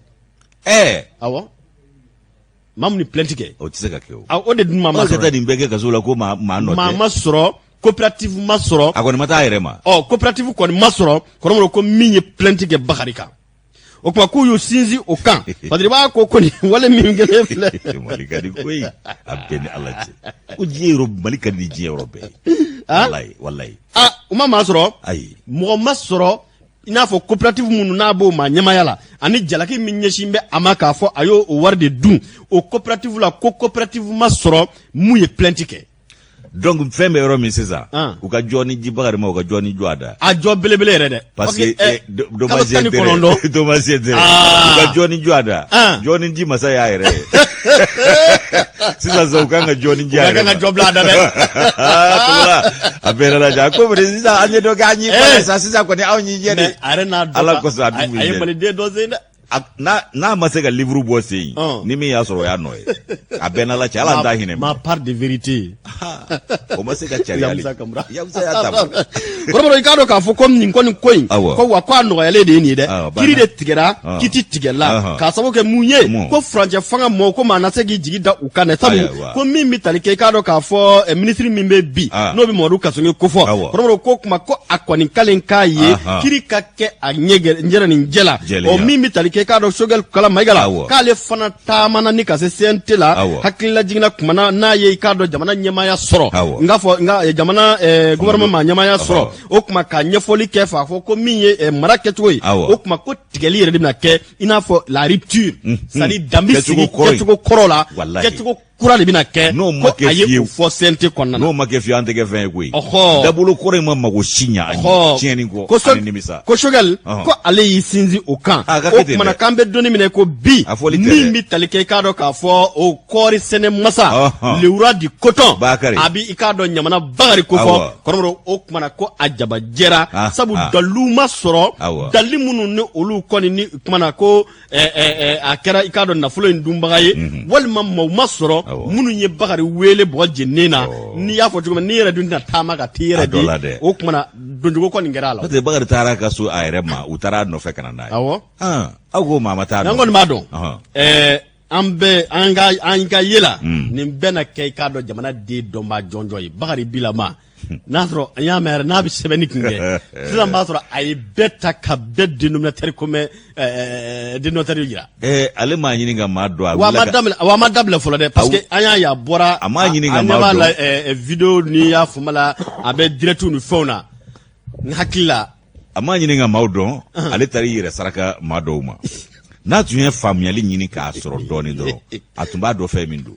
ɛɛ eh. awɔ maa min ni plainte kɛ o tɛ se ka kɛ o o de dun maa ma sɔrɔ nin bɛɛ kɛ kaso la ko maa maa nɔ tɛ maa ma sɔrɔ coopérative ma sɔrɔ a kɔni ma taa a yɛrɛ ma ɔ coopérative kɔni ma sɔrɔ kɔrɔbɔrɔ ko min ye plainte kɛ bakari kan o kuma k'u y'u sinsin o kan parce que i b'a ko ko nin wale min kɛlen filɛ mali ka di koyi a bɛɛ ni ala cɛ ko diɲɛ yɔrɔ mali ka di diɲɛ yɔrɔ bɛɛ ye walayi walayi a u ma maa sɔrɔ ayi mɔgɔ ma sɔrɔ i n'a fɔ coopérative minnu n'a b'o ma ɲɛmaaya la ani jalaki min ɲɛsin bɛ a ma k'a fɔ a y'o o wari de dun o coopérative la ko coopérative ma sɔrɔ min ye plainte kɛ donc fɛn bɛ yɔrɔ min sisan ah. u ka jɔ ni di bakari ma u ka jɔ ni jɔ a da a jɔ belebele yɛrɛ dɛ parce que eh, dommage intérêt dommage intérêt ah. u ka jɔ ni jɔ a da ah. jɔ ni ji masa y'a yɛrɛ ye sisan sa u kan ka jɔ ni di a Ka yɛrɛ kan ka ma. jɔ bila a da dɛ. Togola, a bɛɛ yɛrɛ lajɛ a ko bari sisan an ye dɔ kɛ an y'i Eh. kɔnɔ sa sisan kɔni anw y'i jɛ dɛ Mais a yɛrɛ n'a dɔn Ala ka- kosɔn a bɛ a- mun a ye yɛrɛ. maliden dɔ sen dɛ A- n'a n'a ma se ka livre bɔ sen Ɔn. ni min y'a sɔrɔ o y'a nɔ ye a bɛɛ n'ala cɛ ala an t'a hinɛ ma part de vérité o ma se ka caya ya i k'a dɔn k'a fɔ ko nin kɔni ko in ko wa ko a nɔgɔyalen de ye nin ye dɛ kiri de tigɛra kiti tigɛla k'a sababu kɛ mun ye ko furancɛ fanga mɔgɔw ko maa na se k'i jigi da u kan dɛ sabu ko min bɛ tali kɛ i k'a dɔn k'a fɔ eh, ministre min bɛ bi n'o bɛ mamadu kasoge ko fɔ kɔrɔbɔrɔ ko kuma ko a kɔni kalen k'a ye kiri ka kɛ a ɲɛ nin jɛ la ɔ min bɛ tali kɛ i k'a dɔn Choguel Kokalla Maïga la k'ale fana taamana ni ka se CNT la Awɔ. hakilila jiginna kuma na n'a ye i k'a dɔn jamana ɲɛmaaya sɔrɔ Awɔ. n k'a fɔ n ka eh, jamana eh, gouvernement ma ɲɛmaaya sɔrɔ Awɔ. o kuma ka ɲɛfɔli kɛ f'a fɔ ko min ye eh, mara kɛcogo ye Awɔ. o kuma ko tigɛli yɛrɛ de bɛna kɛ i n'a fɔ la rupture c'est à dire dan bi Kɛcogo sigi kɔrɔ in. kɛcogo kɔrɔ la Walahi. kɛcogo kura de bɛna kɛ n'o ma kɛ fiyewu a ye o fɔ CNT kɔnɔna na n'o ma kɛ fiyewu an tɛ kɛ fɛn ye koyi ɔhɔ dabolo kɔrɔ in ma mago si ɲɛ an ye tiɲɛni kɔ ko ani nimisa ko Choguel ko ale y'i sinsin o kan o kumana k'an bɛ don nin min na ko bi min bɛ tali kɛ i k'a dɔn k'a fɔ o kɔɔri sɛnɛ masa le roi du coton Bakari a bɛ i k'a dɔn ɲamana Bakari ko fɔ kɔrɔbɔrɔ o kumana ko a jabajɛra sabu dalilu ma sɔrɔ dalili minnu ni olu kɔni ni kumana ko a kɛra i k'a dɔn nafolo in dunbaga ye walima maaw ma sɔrɔ minnu ye bakari weele bɔgɔ jeninen na n'i y'a fɔ cogo min n'i yɛrɛ dun tɛna taama ka t'i yɛrɛ di o kumana donjugu kɔni kɛra a la bakari taara kaso a yɛrɛ ma u taara a nɔfɛ ka n'a aw aw ko maa ma taa an kɔni b'a dɔn an bɛɛ an ka ye la nin bɛna kɛ i k'a dɔn jamana den dɔnba jɔnjɔn ye bakari bila n'a sɔrɔ an y'a mɛn yɛrɛ n'a bɛ sɛbɛnni kun kɛ sisan b'a sɔrɔ a ye bɛɛ ta ka bɛɛ dénominateur commun dénominateur jira. ɛɛ ale m'a ɲini ka maa dɔn wa a ma dabila fɔlɔ dɛ parce que an y'a ye a bɔra a m'a ɲini ka maa dɔn a video ni y'a fama la a bɛ direct ni fɛnw na n hakili la. a m'a ɲini ka maaw dɔn ale taara i yɛrɛ saraka maa dɔw ma n'a tun ye faamuyali ɲini k'a sɔrɔ dɔɔni dɔrɔn a tun b'a dɔn fɛn min don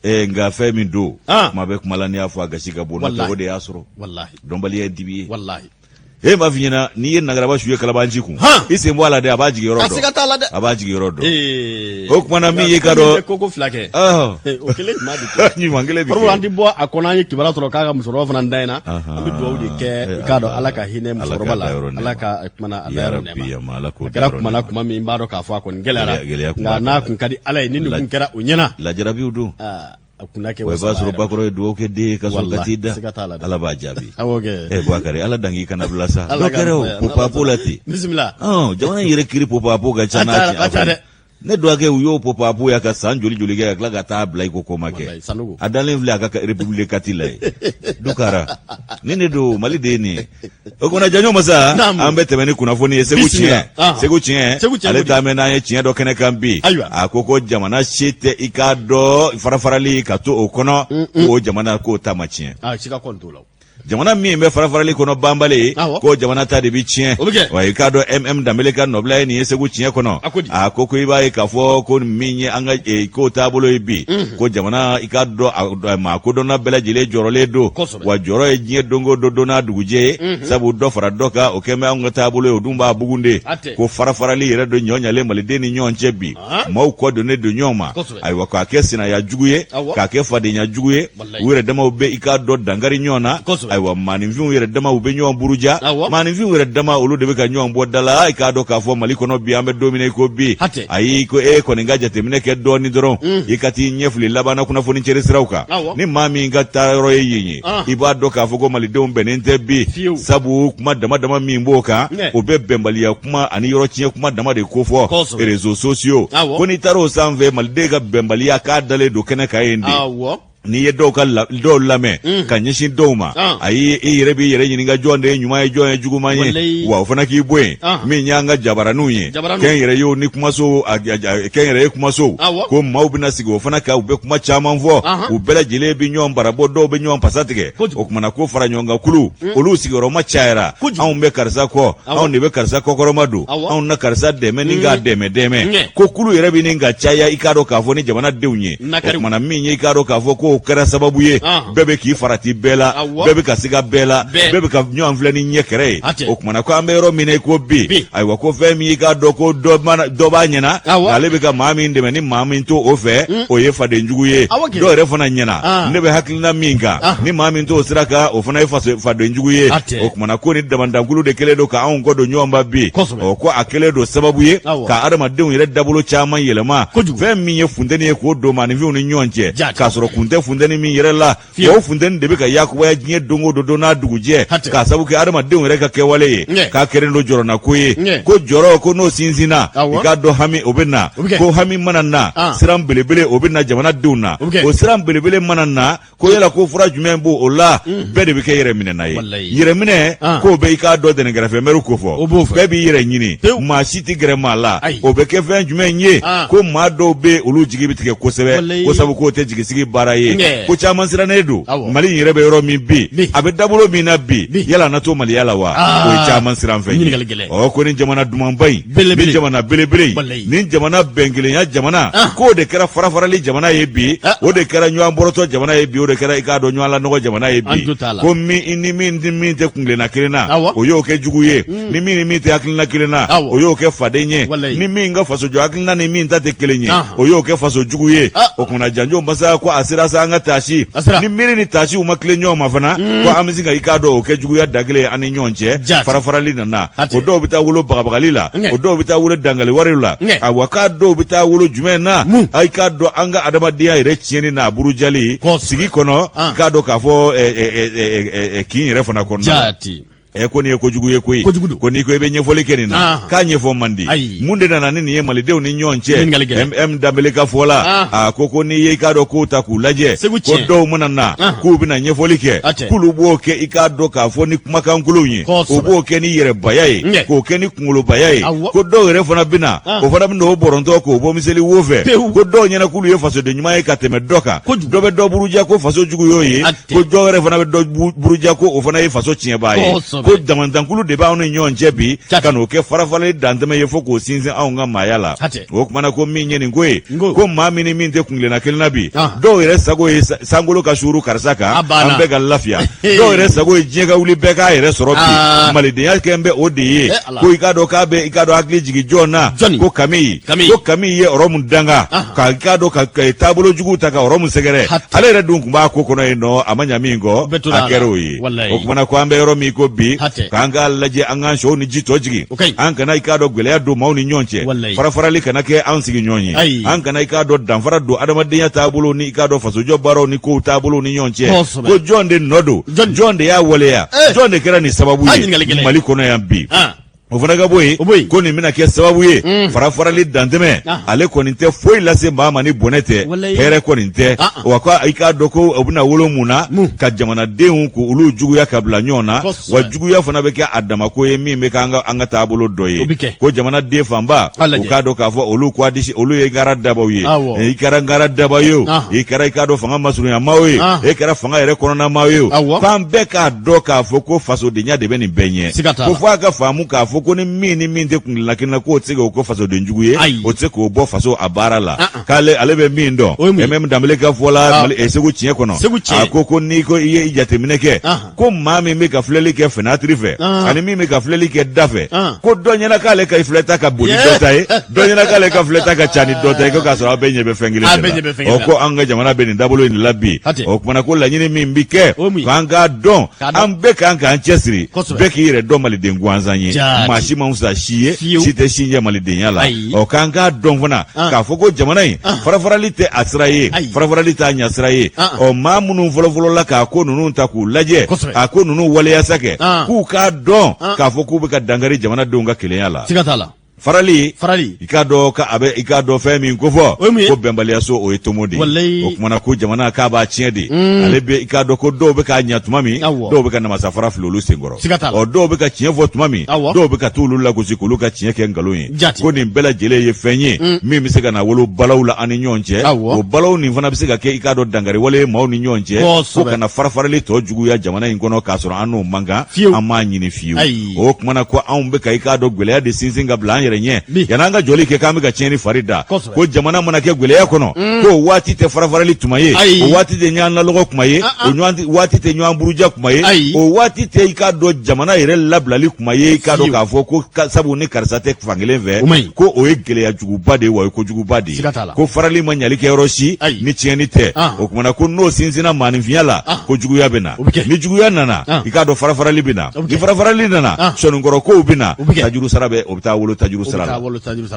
eh, nka fɛn min don ah. kuma bɛ kuma la n'i y'a fɔ a gasi ka bon o de y'a sɔrɔ dɔnbaliya ye dibi ye e m'a f'i ɲɛna n'i ye nagaraba su ye kalabanci kun i sen bɔ a la dɛ a b'a jigin yɔrɔ dɔn a b'a jigin yɔrɔ dɔn o kumana min y'i k'a dɔn ko ko fila kɛ o kelen ɲuman kelen bi an tɛ bɔ a kɔnɔ an ye kibaruya sɔrɔ k'a ka musokɔrɔba fana da in na an bɛ dugawu de kɛ i k'a dɔn ala ka hinɛ musokɔrɔba la ala ka kumana a dayɔrɔ nɛɛma a kɛra kumana kuma min b'a dɔn k'a fɔ a kɔni gɛlɛyara nka n'a kun ka di ala ye ni nin kun kɛra o ɲɛna lajarabiw don a kunna kɛ o b'a sɔrɔ bakɔrɔ ye dugawu kɛ den ye ka sɔrɔ ka t'i da ala b'a jaabi ɛ bakari ala dan k'i kana bila sa dɔ kɛra o popapo la ten jamana in yɛrɛ kiri popapo ka ca n'a tiɲɛ dɛ ne dɔgɔkɛ u y'o popapo ya ka san joli joli kɛ ka tila ka taa bila i ko ko ma kɛ a dalen filɛ a ka République kati la yen dukara ni ne don mali de ye nin ye o kumana janjo masa an bɛ tɛmɛ ni kunnafoni ye segu tiɲɛ segu tiɲɛ ale ta mɛn n'an ye tiɲɛ dɔ kɛnɛ kan bi a ko ko jamana si tɛ i k'a dɔn farafarali ka to o kɔnɔ mm, mm. k'o jamana k'o ta ma tiɲɛ ah, jamana min bɛ farafarali kɔnɔ banbali ko jamana ta de bi tiɲɛ wa i k'a dɔn mm danbele ka nɔbila ye nin ye segu tiɲɛ kɔnɔ a ko ko i b'a ye k'a fɔ ko min ye an ka e, ko taabolo ye bi mhm. ko jamana i k'a dɔn maa kodɔnna bɛɛ lajɛlen jɔrɔlen don wa jɔrɔ ye diɲɛ don go don don n'a dugujɛ ye mhm. sabu dɔ fara dɔ kan o kɛn bɛ an ka taabolo ye o dun b'a bugun de ko farafarali yɛrɛ don ɲɔ ɲalen maliden ni ɲɔgɔn cɛ bi maaw kɔ donnen don ɲɔgɔn ma ayiwa k'a kɛ sinaya jugu ye k'a kɛ fadenya jugu ye u yɛrɛ damaw bɛ i k'a dɔn dankari ɲɔgɔn na ayiwa maaninfinw yɛrɛ damaw bɛ ɲɔgɔn buruja maaninfinw yɛrɛ dama olu de bɛ ka ɲɔgɔn bɔ da la i k'a dɔn k'a fɔ mali kɔnɔ bi an bɛ don min i ko bi ayi ko e kɔni ka jateminɛ kɛ dɔɔnin dɔrɔn mhm. i ka t'i ɲɛfili labanna kunnafoni cɛri siraw kan ni maa min ka taa yɔrɔ ye yen ye i b'a dɔn k'a fɔ ko malidenw bɛnnen tɛ bi sabu kuma dama dama min b'o kan o bɛɛ bɛnbaliya kuma ani yɔrɔ tiɲɛ kuma dama de ko fɔ réseaux sociaux ko n'i taar'o sanfɛ maliden ka bɛnbaliya k'a dalen don kɛnɛ kan yen de n'i ye dɔw lamɛn mm. ka ɲɛsin dɔw ma ah. ayi i yɛrɛ b'i yɛrɛ ɲininka jɔn de ye ɲuman ye jɔn ye juguman ye wa o fana k'i bɔ yen ah. min y'an ka jabaraninw ye kɛn yɛrɛ ye ni kumaso kɛn yɛrɛ ye kumaso ko maaw bɛna sigi o fana kan u bɛ kuma caman fɔ u bɛɛ lajɛlen bɛ ɲɔgɔn barabɔ dɔw bɛ ɲɔgɔn pasa tigɛ o kumana ko fara ɲɔgɔn kan kulu hmm. olu sigiyɔrɔma cayara anw bɛ karisa kɔ anw de bɛ karisa kɔkɔrɔma don anw na karisa dɛmɛ nin ka hmm. dɛmɛ dɛmɛ ko kulu yɛrɛ bɛ nin ka caya i k'a dɔn k'a fɔ ni jamanadenw ye o kumana min ye i k'a dɔn k'a fɔ k'o kɛra sababu ye bɛɛ bɛ k'i farati bɛɛ la bɛɛ bɛ ka siga bɛɛ la bɛɛ bɛ ka ɲɔgɔn filɛ ni ɲɛ kɛrɛ ye o kumana ko an bɛ yɔrɔ min na i ko bi ayiwa ko fɛn min y'i k'a dɔn ko dɔ b'a ɲɛna ale bɛ ka maa min dɛmɛ ni maa min t'o fɛ o ye fadenjugu ye dɔw yɛrɛ fana ɲɛna ne bɛ hakili na min kan ah. ni maa min t'o sira kan o fana ye fadenjugu ye ah, o kumana ko ni damandankulu de kɛlen don k'anw kɔ don ɲɔgɔn ma bi ɔ ko a kɛlen don sababu ye ka adamadenw yɛrɛ dabolo caman yɛlɛma fɛn min ye funteni ye k'o don maaninfinw ni ɲɔgɔn cɛ k'a sɔrɔ kun tɛ funteni min yɛrɛ la o funteni de bɛ ka yakubaya diɲɛ don o don don n'a dugujɛ k'a sababu kɛ adamadenw yɛrɛ ka kɛwale ye k'a kɛlen don jɔrɔnako ye ko jɔrɔ ko n'o sinsinna i k'a dɔn hami o bɛ na ko hami mana na ah. siran belebele o bɛ na jamanadenw na o siran belebele mana na ko yala ko fura jumɛn b'o la mm. bɛɛ de bɛ kɛ yɛrɛminɛna ye yɛrɛminɛ ah. k'o bɛ i k'a dɔn dɛnɛn kɛrɛfɛ mɛri ko fɔ bɛɛ b'i yɛrɛ ɲini maa si tɛ gɛrɛ maa la o bɛ kɛ fɛn jumɛn ye ah. ko maa dɔw bɛ olu jigi bɛ tigɛ kosɛbɛ ko sabu k'o tɛ jigisigi baara ye ko caman sirannen don mali yɛrɛ bɛ yɔrɔ min bi a bɛ dabolo min na bi yala na to maliya la wa ah. o ye caman siran fɛn ye ko ni jamana dumanba in ni jamana belebele ni jamana bɛnkelenya jamana ah. k'o de kɛra farafarali jamana ye bi ah. o de kɛra ɲɔgɔn bɔrɔtɔ jamana ye bi o de kɛra i k'a dɔn ɲɔgɔn lanɔgɔ jamana ye bi ko min ni min ni min tɛ kungilenna kelen na o y'o kɛ jugu ye mm. ni min ni min tɛ hakilina kelen na o y'o kɛ faden ye ni min ka fasojɔ hakilina ni min ta tɛ kelen ye o y'o kɛ faso jugu ye ah. o kumana janjo masaya ko a sera sa an ka taasi ni miiri ni taasiw ma tilen ɲɔgɔn ma fana mm. ko an bɛ se ka i k'a dɔn o kɛ juguya da kelen an ni ɲɔgɔn cɛ farafarali na o dɔw bɛ taa wolo bagabagali la o dɔw bɛ taa wolo dangali wari la awa k'a dɔw bɛ taa wolo jumɛn na a i k'a dɔn an ka adamadenya yɛrɛ tiɲɛni n'a burujali sigi kɔnɔ i k'a dɔn k'a fɔ kin yɛrɛ fana kɔnɔ ɛ ko nin ye kojugu ye koyi kojugu ko n'i ko i bɛ ɲɛfɔli kɛ nin na k'a ɲɛfɔ man di mun de nana ni nin ye malidenw ni ɲɔgɔn cɛ m danbele ka fɔ la a ko ko n'i ye i k'a dɔn k'u ta k'u lajɛ ko dɔw mana na k'u bɛna ɲɛfɔli kɛ k'olu b'o kɛ i k'a dɔn k'a fɔ ni kumakankolonw ye o b'o kɛ ni yɛrɛbaya ye k'o kɛ ni kunkolobaya ye ko dɔw yɛrɛ fana bɛ na ah. o fana bɛ n'o bɔrɔntɔ k'o bɔ miseli wo fɛ ko dɔw ɲɛna k'olu ye fasoden ɲuman ye ka tɛmɛ dɔ kan dɔ bɛ dɔ buruja ko faso jugu y'o ye ko dɔw yɛrɛ fana bɛ dɔ buruja ko o fana ye faso tiɲɛbaa ye ko damandankulu de b'anw ni ɲɔgɔn cɛ bi ka n'o kɛ farafarali dantɛmɛ ye fo k'o sinsin anw ka maaya la o kumana ko min ye nin ko ye ko maa min ni min tɛ kungilenna kelen na bi ah. dɔw yɛrɛ sago ye sankolo ka suuru karisa kan ah, an bɛɛ ka lafiya dɔw yɛrɛ sago ye diɲɛ ka wuli bɛɛ k'a yɛrɛ sɔrɔ bi ah. malidenya kɛlen bɛ o de ye eh, ko i k'a dɔn k'a bɛ i k'a dɔn hakili jigin jɔn na ko kami ko kami ye ɔrɔmu danga ka i k'a dɔn ka taabolo jugu ta ka ɔrɔmu sɛgɛrɛ ale yɛrɛ dun tun b'a ko kɔnɔ yen nɔ a ma ɲa min kɔ a kɛra o ye o kumana ko an bɛ yɔrɔ min ko bi k'an k'a lajɛ an k'an sɛw ni ji tɔ jigin O ka ɲi an kana i k'a dɔn gwɛlɛya don maaw ni ɲɔgɔn cɛ Walayi. farafarali kana kɛ an sigiɲɔgɔn ye Ayi. an kana i k'a dɔn danfara don adamadenya taabolo ni i k'a dɔn fasojɔ baaraw ni kow taabolo ni ɲɔgɔn cɛ Kosɛbɛ. ko jɔn de nɔ don Jɔn- jɔn de y'a waleya Eh. jɔn de kɛra nin sababu A ɲininkali ye gɛlɛn. Mali kɔnɔ yan bi Ah. o fana ka bɔ yen O bɔ yen. ko nin bɛna kɛ sababu ye Mm. farafarali dantɛmɛ Ah. ale kɔni tɛ foyi lase maa ma ni bɔnɛ tɛ Walayi. hɛrɛ kɔni tɛ Ah, ah. wa ko i k'a dɔn ko o bɛna wolo mun na Mun. ka jamanadenw k'olu juguya ka bila ɲɔgɔn na Kosɛbɛ. wa juguya fana bɛ kɛ a damako ye min bɛ kɛ an ka an ka taabolo dɔ ye ko jamanaden fanba u k'a dɔn k'a fɔ olu k'a disi olu ye gara dabaw ye i kɛra gara daba ye o i kɛra i k'a dɔn fanga masurunyamaaw ye e kɛra fanga yɛrɛ kɔnɔnamaaw ye o fan bɛɛ k'a dɔn k'a fɔ ko fasodenya de bɛ nin bɛɛ ɲɛ ko fo a ka faamu k'a fɔ ko ni min ni min tɛ kuntilenna kelen na k'o tɛ se k'o kɛ fasoden jugu ye o tɛ se k'o bɔ faso a baara la k'ale ale bɛ min dɔn M Danbele ka fɔ la Segu Tiɲɛ kɔnɔ a ko ko n'i ko i ye jateminɛ kɛ ko maa min bɛ ka filɛli kɛ fenêtre fɛ Ɔn. ani min bɛ ka filɛli kɛ da fɛ Ɔn. ko dɔ ɲɛna k'ale ka filɛta ka bon ni Yeah. dɔ ta ye dɔ ɲɛna k'ale ka filɛta ka ca ni dɔ ta ye ko k'a sɔrɔ aw bɛɛ ɲɛ bɛ fɛn kelen A de bɛɛ ɲɛ bɛ fɛn la kelen ɔ na. ko an ka jamana bɛ nin dabolo in de la bi Hatɛ. o kuma na ko laɲini min bɛ kɛ O ye mun ye? k'an k'a dɔn K'a dɔn. an bɛɛ kan k'an cɛsiri Kosɛbɛ. bɛɛ k'i yɛrɛ dɔn maliden gansan ye Jaa. maa si man fisa si ye Fiyewu. si tɛ si ɲɛ malidenya la Ayi. ɔ k'an k'a dɔn fana ah. k'a fɔ ko jamana in ah. farafarali tɛ a sira ye farafarali t'a ɲa sira ye ah. ɔ maa minnu fɔlɔfɔlɔla k'a ko ninnu ta k'u lajɛ a ko ninnu waleya sa kɛ k'u k'a dɔn k'a fɔ k'u bɛ ka dankari jamanadenw ka kelenya la farali farali i k'a dɔn ka a bɛ i k'a dɔn fɛn min ko fɔ ko bɛnbaliyaso o ye tomo de ye o kuma na ko jamana k'a b'a tiɲɛ de mm. ale bɛ i k'a dɔn ko dɔw bɛ k'a ɲɛ tuma min dɔw bɛ ka namasafara fili olu senkɔrɔ ɔ dɔw bɛ ka tiɲɛ fɔ tuma min dɔw bɛ ka t'olu lagosi k'olu ka tiɲɛ kɛ nkalon ye Jati. ko nin bɛɛ lajɛlen ye fɛn ye mm. min bɛ se ka na wolo balawu la an ni ɲɔgɔn cɛ o balawu nin fana bɛ se ka kɛ i k'a dɔn dankariwale maaw ni ɲɔgɔn cɛ ko ka na farafarali tɔ juguya jamana in kɔnɔ k'a sɔrɔ an n'o man kan an m'a ɲini fiyewu o kuma na ko anw bɛ ka i k'a dɔn gwɛlɛya de sinsin ka bila an yɛrɛ ɲɛ yann'an ka jɔli kɛ k'an bɛ ka tiɲɛni fari da ko jamana mana kɛ gwɛlɛya kɔnɔ mm. k'o waati tɛ farafarali tuma ye o waati tɛ ɲɔgɔn lanɔgɔ tuma ye ah, ah. o ɲɔgɔn waati tɛ ɲɔgɔn buruja kuma ye ayi o waati tɛ i k'a dɔn jamana yɛrɛ labilali kuma ye i k'a dɔn k'a fɔ ko sabu ni karisa tɛ fankelen fɛ ko o ye gɛlɛya juguba de ye wa o ye kojuguba de ye ko farali ma ɲali kɛ yɔrɔ si ni tiɲɛni tɛ ah. o kuma na ko n'o sinsinna maaninfinya la ah. ko juguya bɛ na ni juguya nana ah. i k'a dɔn farafarali bɛ na ni farafarali nana sɔnnikɔrɔ kow bɛ na tajurusara bɛ o bɛ taa wolo tajurusara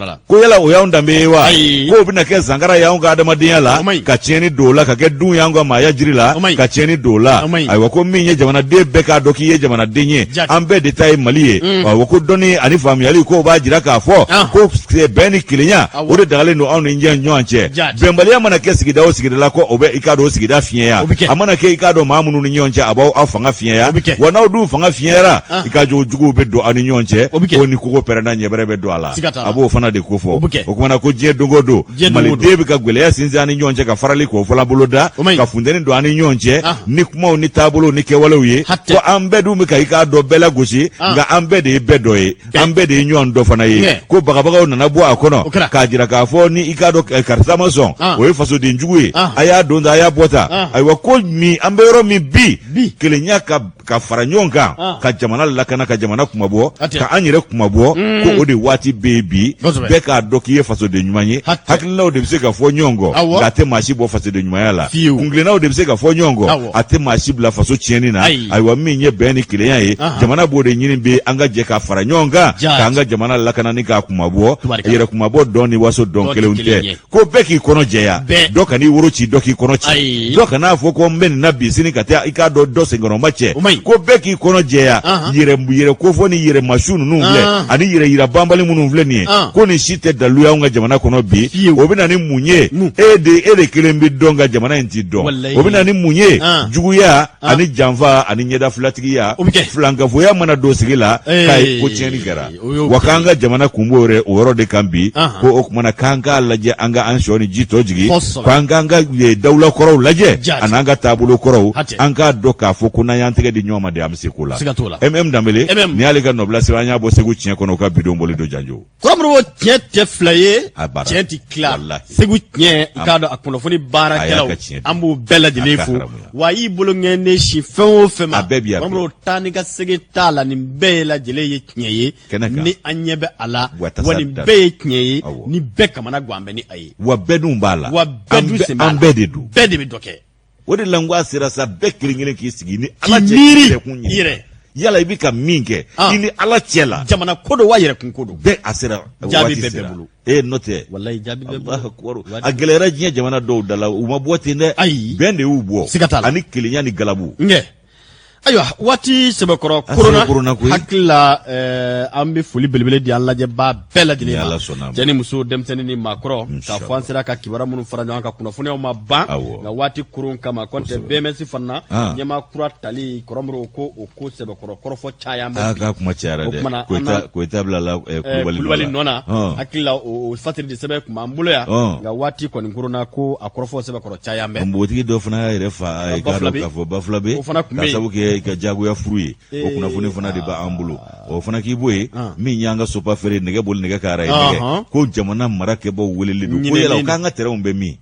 la ko yala o y'anw danbe ye wa k'o bɛna kɛ zankara y'anw ka adamadenya la ka tiɲɛni don o la ka kɛ dun y'anw ka maaya jiri la ka tiɲɛni don o la ayiwa ko min ye jamanaden bɛɛ k'a dɔn k'i ye jamanaden ye an bɛɛ de ta ye mali ye mm. ayiwa ko dɔnni ani faamuyali k'o b'a jira k'a fɔ ah. ko bɛn ni kelenya o de dagalen don anw ni ɲɔgɔn cɛ bɛnbaliya mana kɛ sigida o sigida la ko o bɛ i k'a dɔn o sigida fiɲɛya a mana kɛ i k'a dɔn maa minnu ni ɲɔgɔn cɛ a b'aw aw fanga fiɲɛya wa n'aw dun fanga fiɲɛyara ah. i k'a dɔn juguw bɛ don aw ni ɲɔgɔn cɛ ko ni kogo pɛrɛnna ɲɛbɛrɛ bɛ don a la a b'o fana de kofɔ o kumana ko diɲɛ dogo don maliden bɛ ka gɛlɛya sinsin an ni ɲɔgɔn cɛ ka farali k'o fɔlɔ boloda ka funteni don an ni ɲɔgɔn cɛ ah. ni kumaw ni taabolo ni kɛwalew ye ko an bɛɛ dun bɛ ka i k'a dɔn bɛɛ lagosi ah. nka an bɛɛ de ye bɛɛ dɔ ye an bɛɛ de ye ɲɔgɔn dɔ fana ye ko bagabagaw nana bɔ a kɔnɔ k'a jira k'a fɔ ni i k'a dɔn eh, karisa ma sɔn ah. o ye fasoden jugu ye a y'a don ta a y'a bɔ ta ayiwa ko min an bɛ yɔrɔ min bi kelenya ka ka fara ɲɔgɔn kan ah. ka jamana lakana ka jamana kunmabɔ ka an yɛrɛ kunmabɔ mm. ko o de waati bɛ yen bi bɛɛ k'a dɔn k'i ye fasoden ɲuman ye hakilinaw de bɛ se ka fɔ ɲɔgɔn kɔ nka a tɛ maa si bɔ fasoden ɲumanya la kuntilennaw de bɛ se ka fɔ ɲɔgɔn kɔ a tɛ maa si bila faso tiɲɛni na ayiwa min ye bɛn ni kelenya ye jamana b'o de ɲini bɛ an ka jɛ ka fara ɲɔgɔn kan k'an ka jamana lakana ni k'a kunmabɔ yɛrɛ kunmabɔ don ni waso don kelen tɛ ko bɛɛ k'i kɔnɔ jɛya dɔ kan'i woro ci dɔ k'i kɔnɔ ci dɔ kan'a fɔ ko n bɛ nin na bi sini ka taa i k'a dɔn dɔ senkɔrɔmacɛ ko bɛɛ k'i kɔnɔ jɛya yɛrɛ kofɔ ni yɛrɛmasiw ninnu filɛ ani yɛrɛ yira banbali minnu filɛ nin ko nin si tɛ dalu y'anw ka jamana kɔnɔ bi o bɛ na ni mun ye e de e de kelen b'i dɔn nka jamana in t'i dɔn o bɛ na ni mun ye juguya ani janfa ani ɲɛdafilatigiya filankafoya mana don sigi la k'a ye ko tiɲɛni kɛra wa k'an ka jamana kun b'o yɛrɛ o yɔrɔ de kan bi ko o kumana k'an k'a lajɛ an ka an sɔn ni ji tɔ jigin k'an k'an ka dawula kɔrɔw lajɛ an'an ka taabolo kɔrɔw an k'a dɔn k'a fɔ ko n'an y'an tɛgɛ di ɲɔgɔn ma de an bɛ se ko la mm danbele ni y'ale ka nɔbila sɛbɛn an y'a bɔ segu tiɲɛ kɔnɔ ka bidon boli don janjo kɔrɔmɔrɔw tiɲɛ tɛ fila ye tiɲɛ ti tila segu tiɲɛ k'a dɔn a kunnafoni baarakɛlaw an b'u bɛɛ lajɛlen fo wa y'i bolonkɔni sin fɛn o fɛn ma a bɛɛ bi yan bamanan taa ni ka segin t'a la nin bɛɛ ye lajɛlen ye tiɲɛ ye ni an ɲɛ bɛ a la wa nin bɛɛ ye tiɲɛ ye ni bɛɛ kamana gan bɛ ni a ye wa bɛɛ dun b'a la wa bɛɛ dun sen b'a la an bɛɛ de don bɛɛ de bɛ dɔ kɛ o de la n ko a sera sa bɛɛ kelen kelen k'i sigi ni ala cɛ yɛrɛkun ye yɛrɛ yala i bɛ ka min kɛ i ni ala cɛ la jamana ko don wa yɛrɛkun ko don bɛɛ a sera jaabi bɛ bɛɛ bolo ee n'o tɛ walayi jaabi bɛ bɔ akubaru a gɛlɛyara diɲɛ jamana dɔw da la u ma bɔ ten dɛ ayi bɛn de y'u bɔ siga t'a la ani kelenya ni galabu nkɛ ayiwa waati sɛbɛkɔrɔ koronna koronna koyi hakili la ɛɛ an bɛ foli belebele di an lajɛbaa bɛɛ lajɛlen ma ala sɔnna cɛ ni muso denmisɛnnin ni maakɔrɔ k'a fɔ an sera ka kibaruya minnu fara ɲɔgɔn kan kunnafoniyaw ma ban nka waati koron kama kɔntɛ bms fana ɲɛmaa kura tali kɔrɔmɔrɔw ko o ko sɛbɛkɔrɔ kɔrɔfɔ caya ma a ka kuma cayara dɛ koyita bilala eh, eh, kulubali nɔ na hakili la o fatiri de sɛbɛn tun b'an bolo yan nka waati kɔni kɔrɔnna ko a kɔrɔfɔ sɛbɛkɔrɔ caya mɛ npogotigi dɔ fana y'a yɛrɛ fa ye k'a dɔn k'a fɔ bafulabe k'a sabu kɛ i ka jagoya furu ye o eh, kunnafoni fana de b'an bolo ah. o fana k'i b'o ye ah. min y'an ka sopafer nɛgɛ boli nɛgɛ kan rayi nɛgɛ ko jamana marakɛbaw weleli don ko yala k'an ka tɛrɛnw bɛ min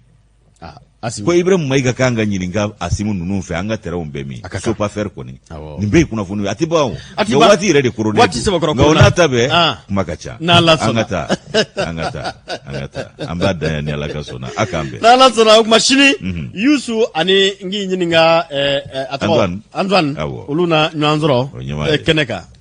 Ah, ko iburahimu mayiga k'an ka ɲininka asimi ninnu fɛ an ka tɛrɛnw bɛ min sopafer kɔni nin bɛɛ kunnafoni a tɛ ban nka waati yɛrɛ de kɔrɔnna n'a ta bɛɛ ah. kuma ka ca n'a la an ka taa an ka taa an ka taa an b'a da ni ala ka sɔnna a k'an bɛn n'ala sɔnna o tuma sini mhm. yusu ani n k'i ɲininka eh, eh, a tɔgɔ antoine olu na ɲɔgɔn sɔrɔ eh, kɛnɛ kan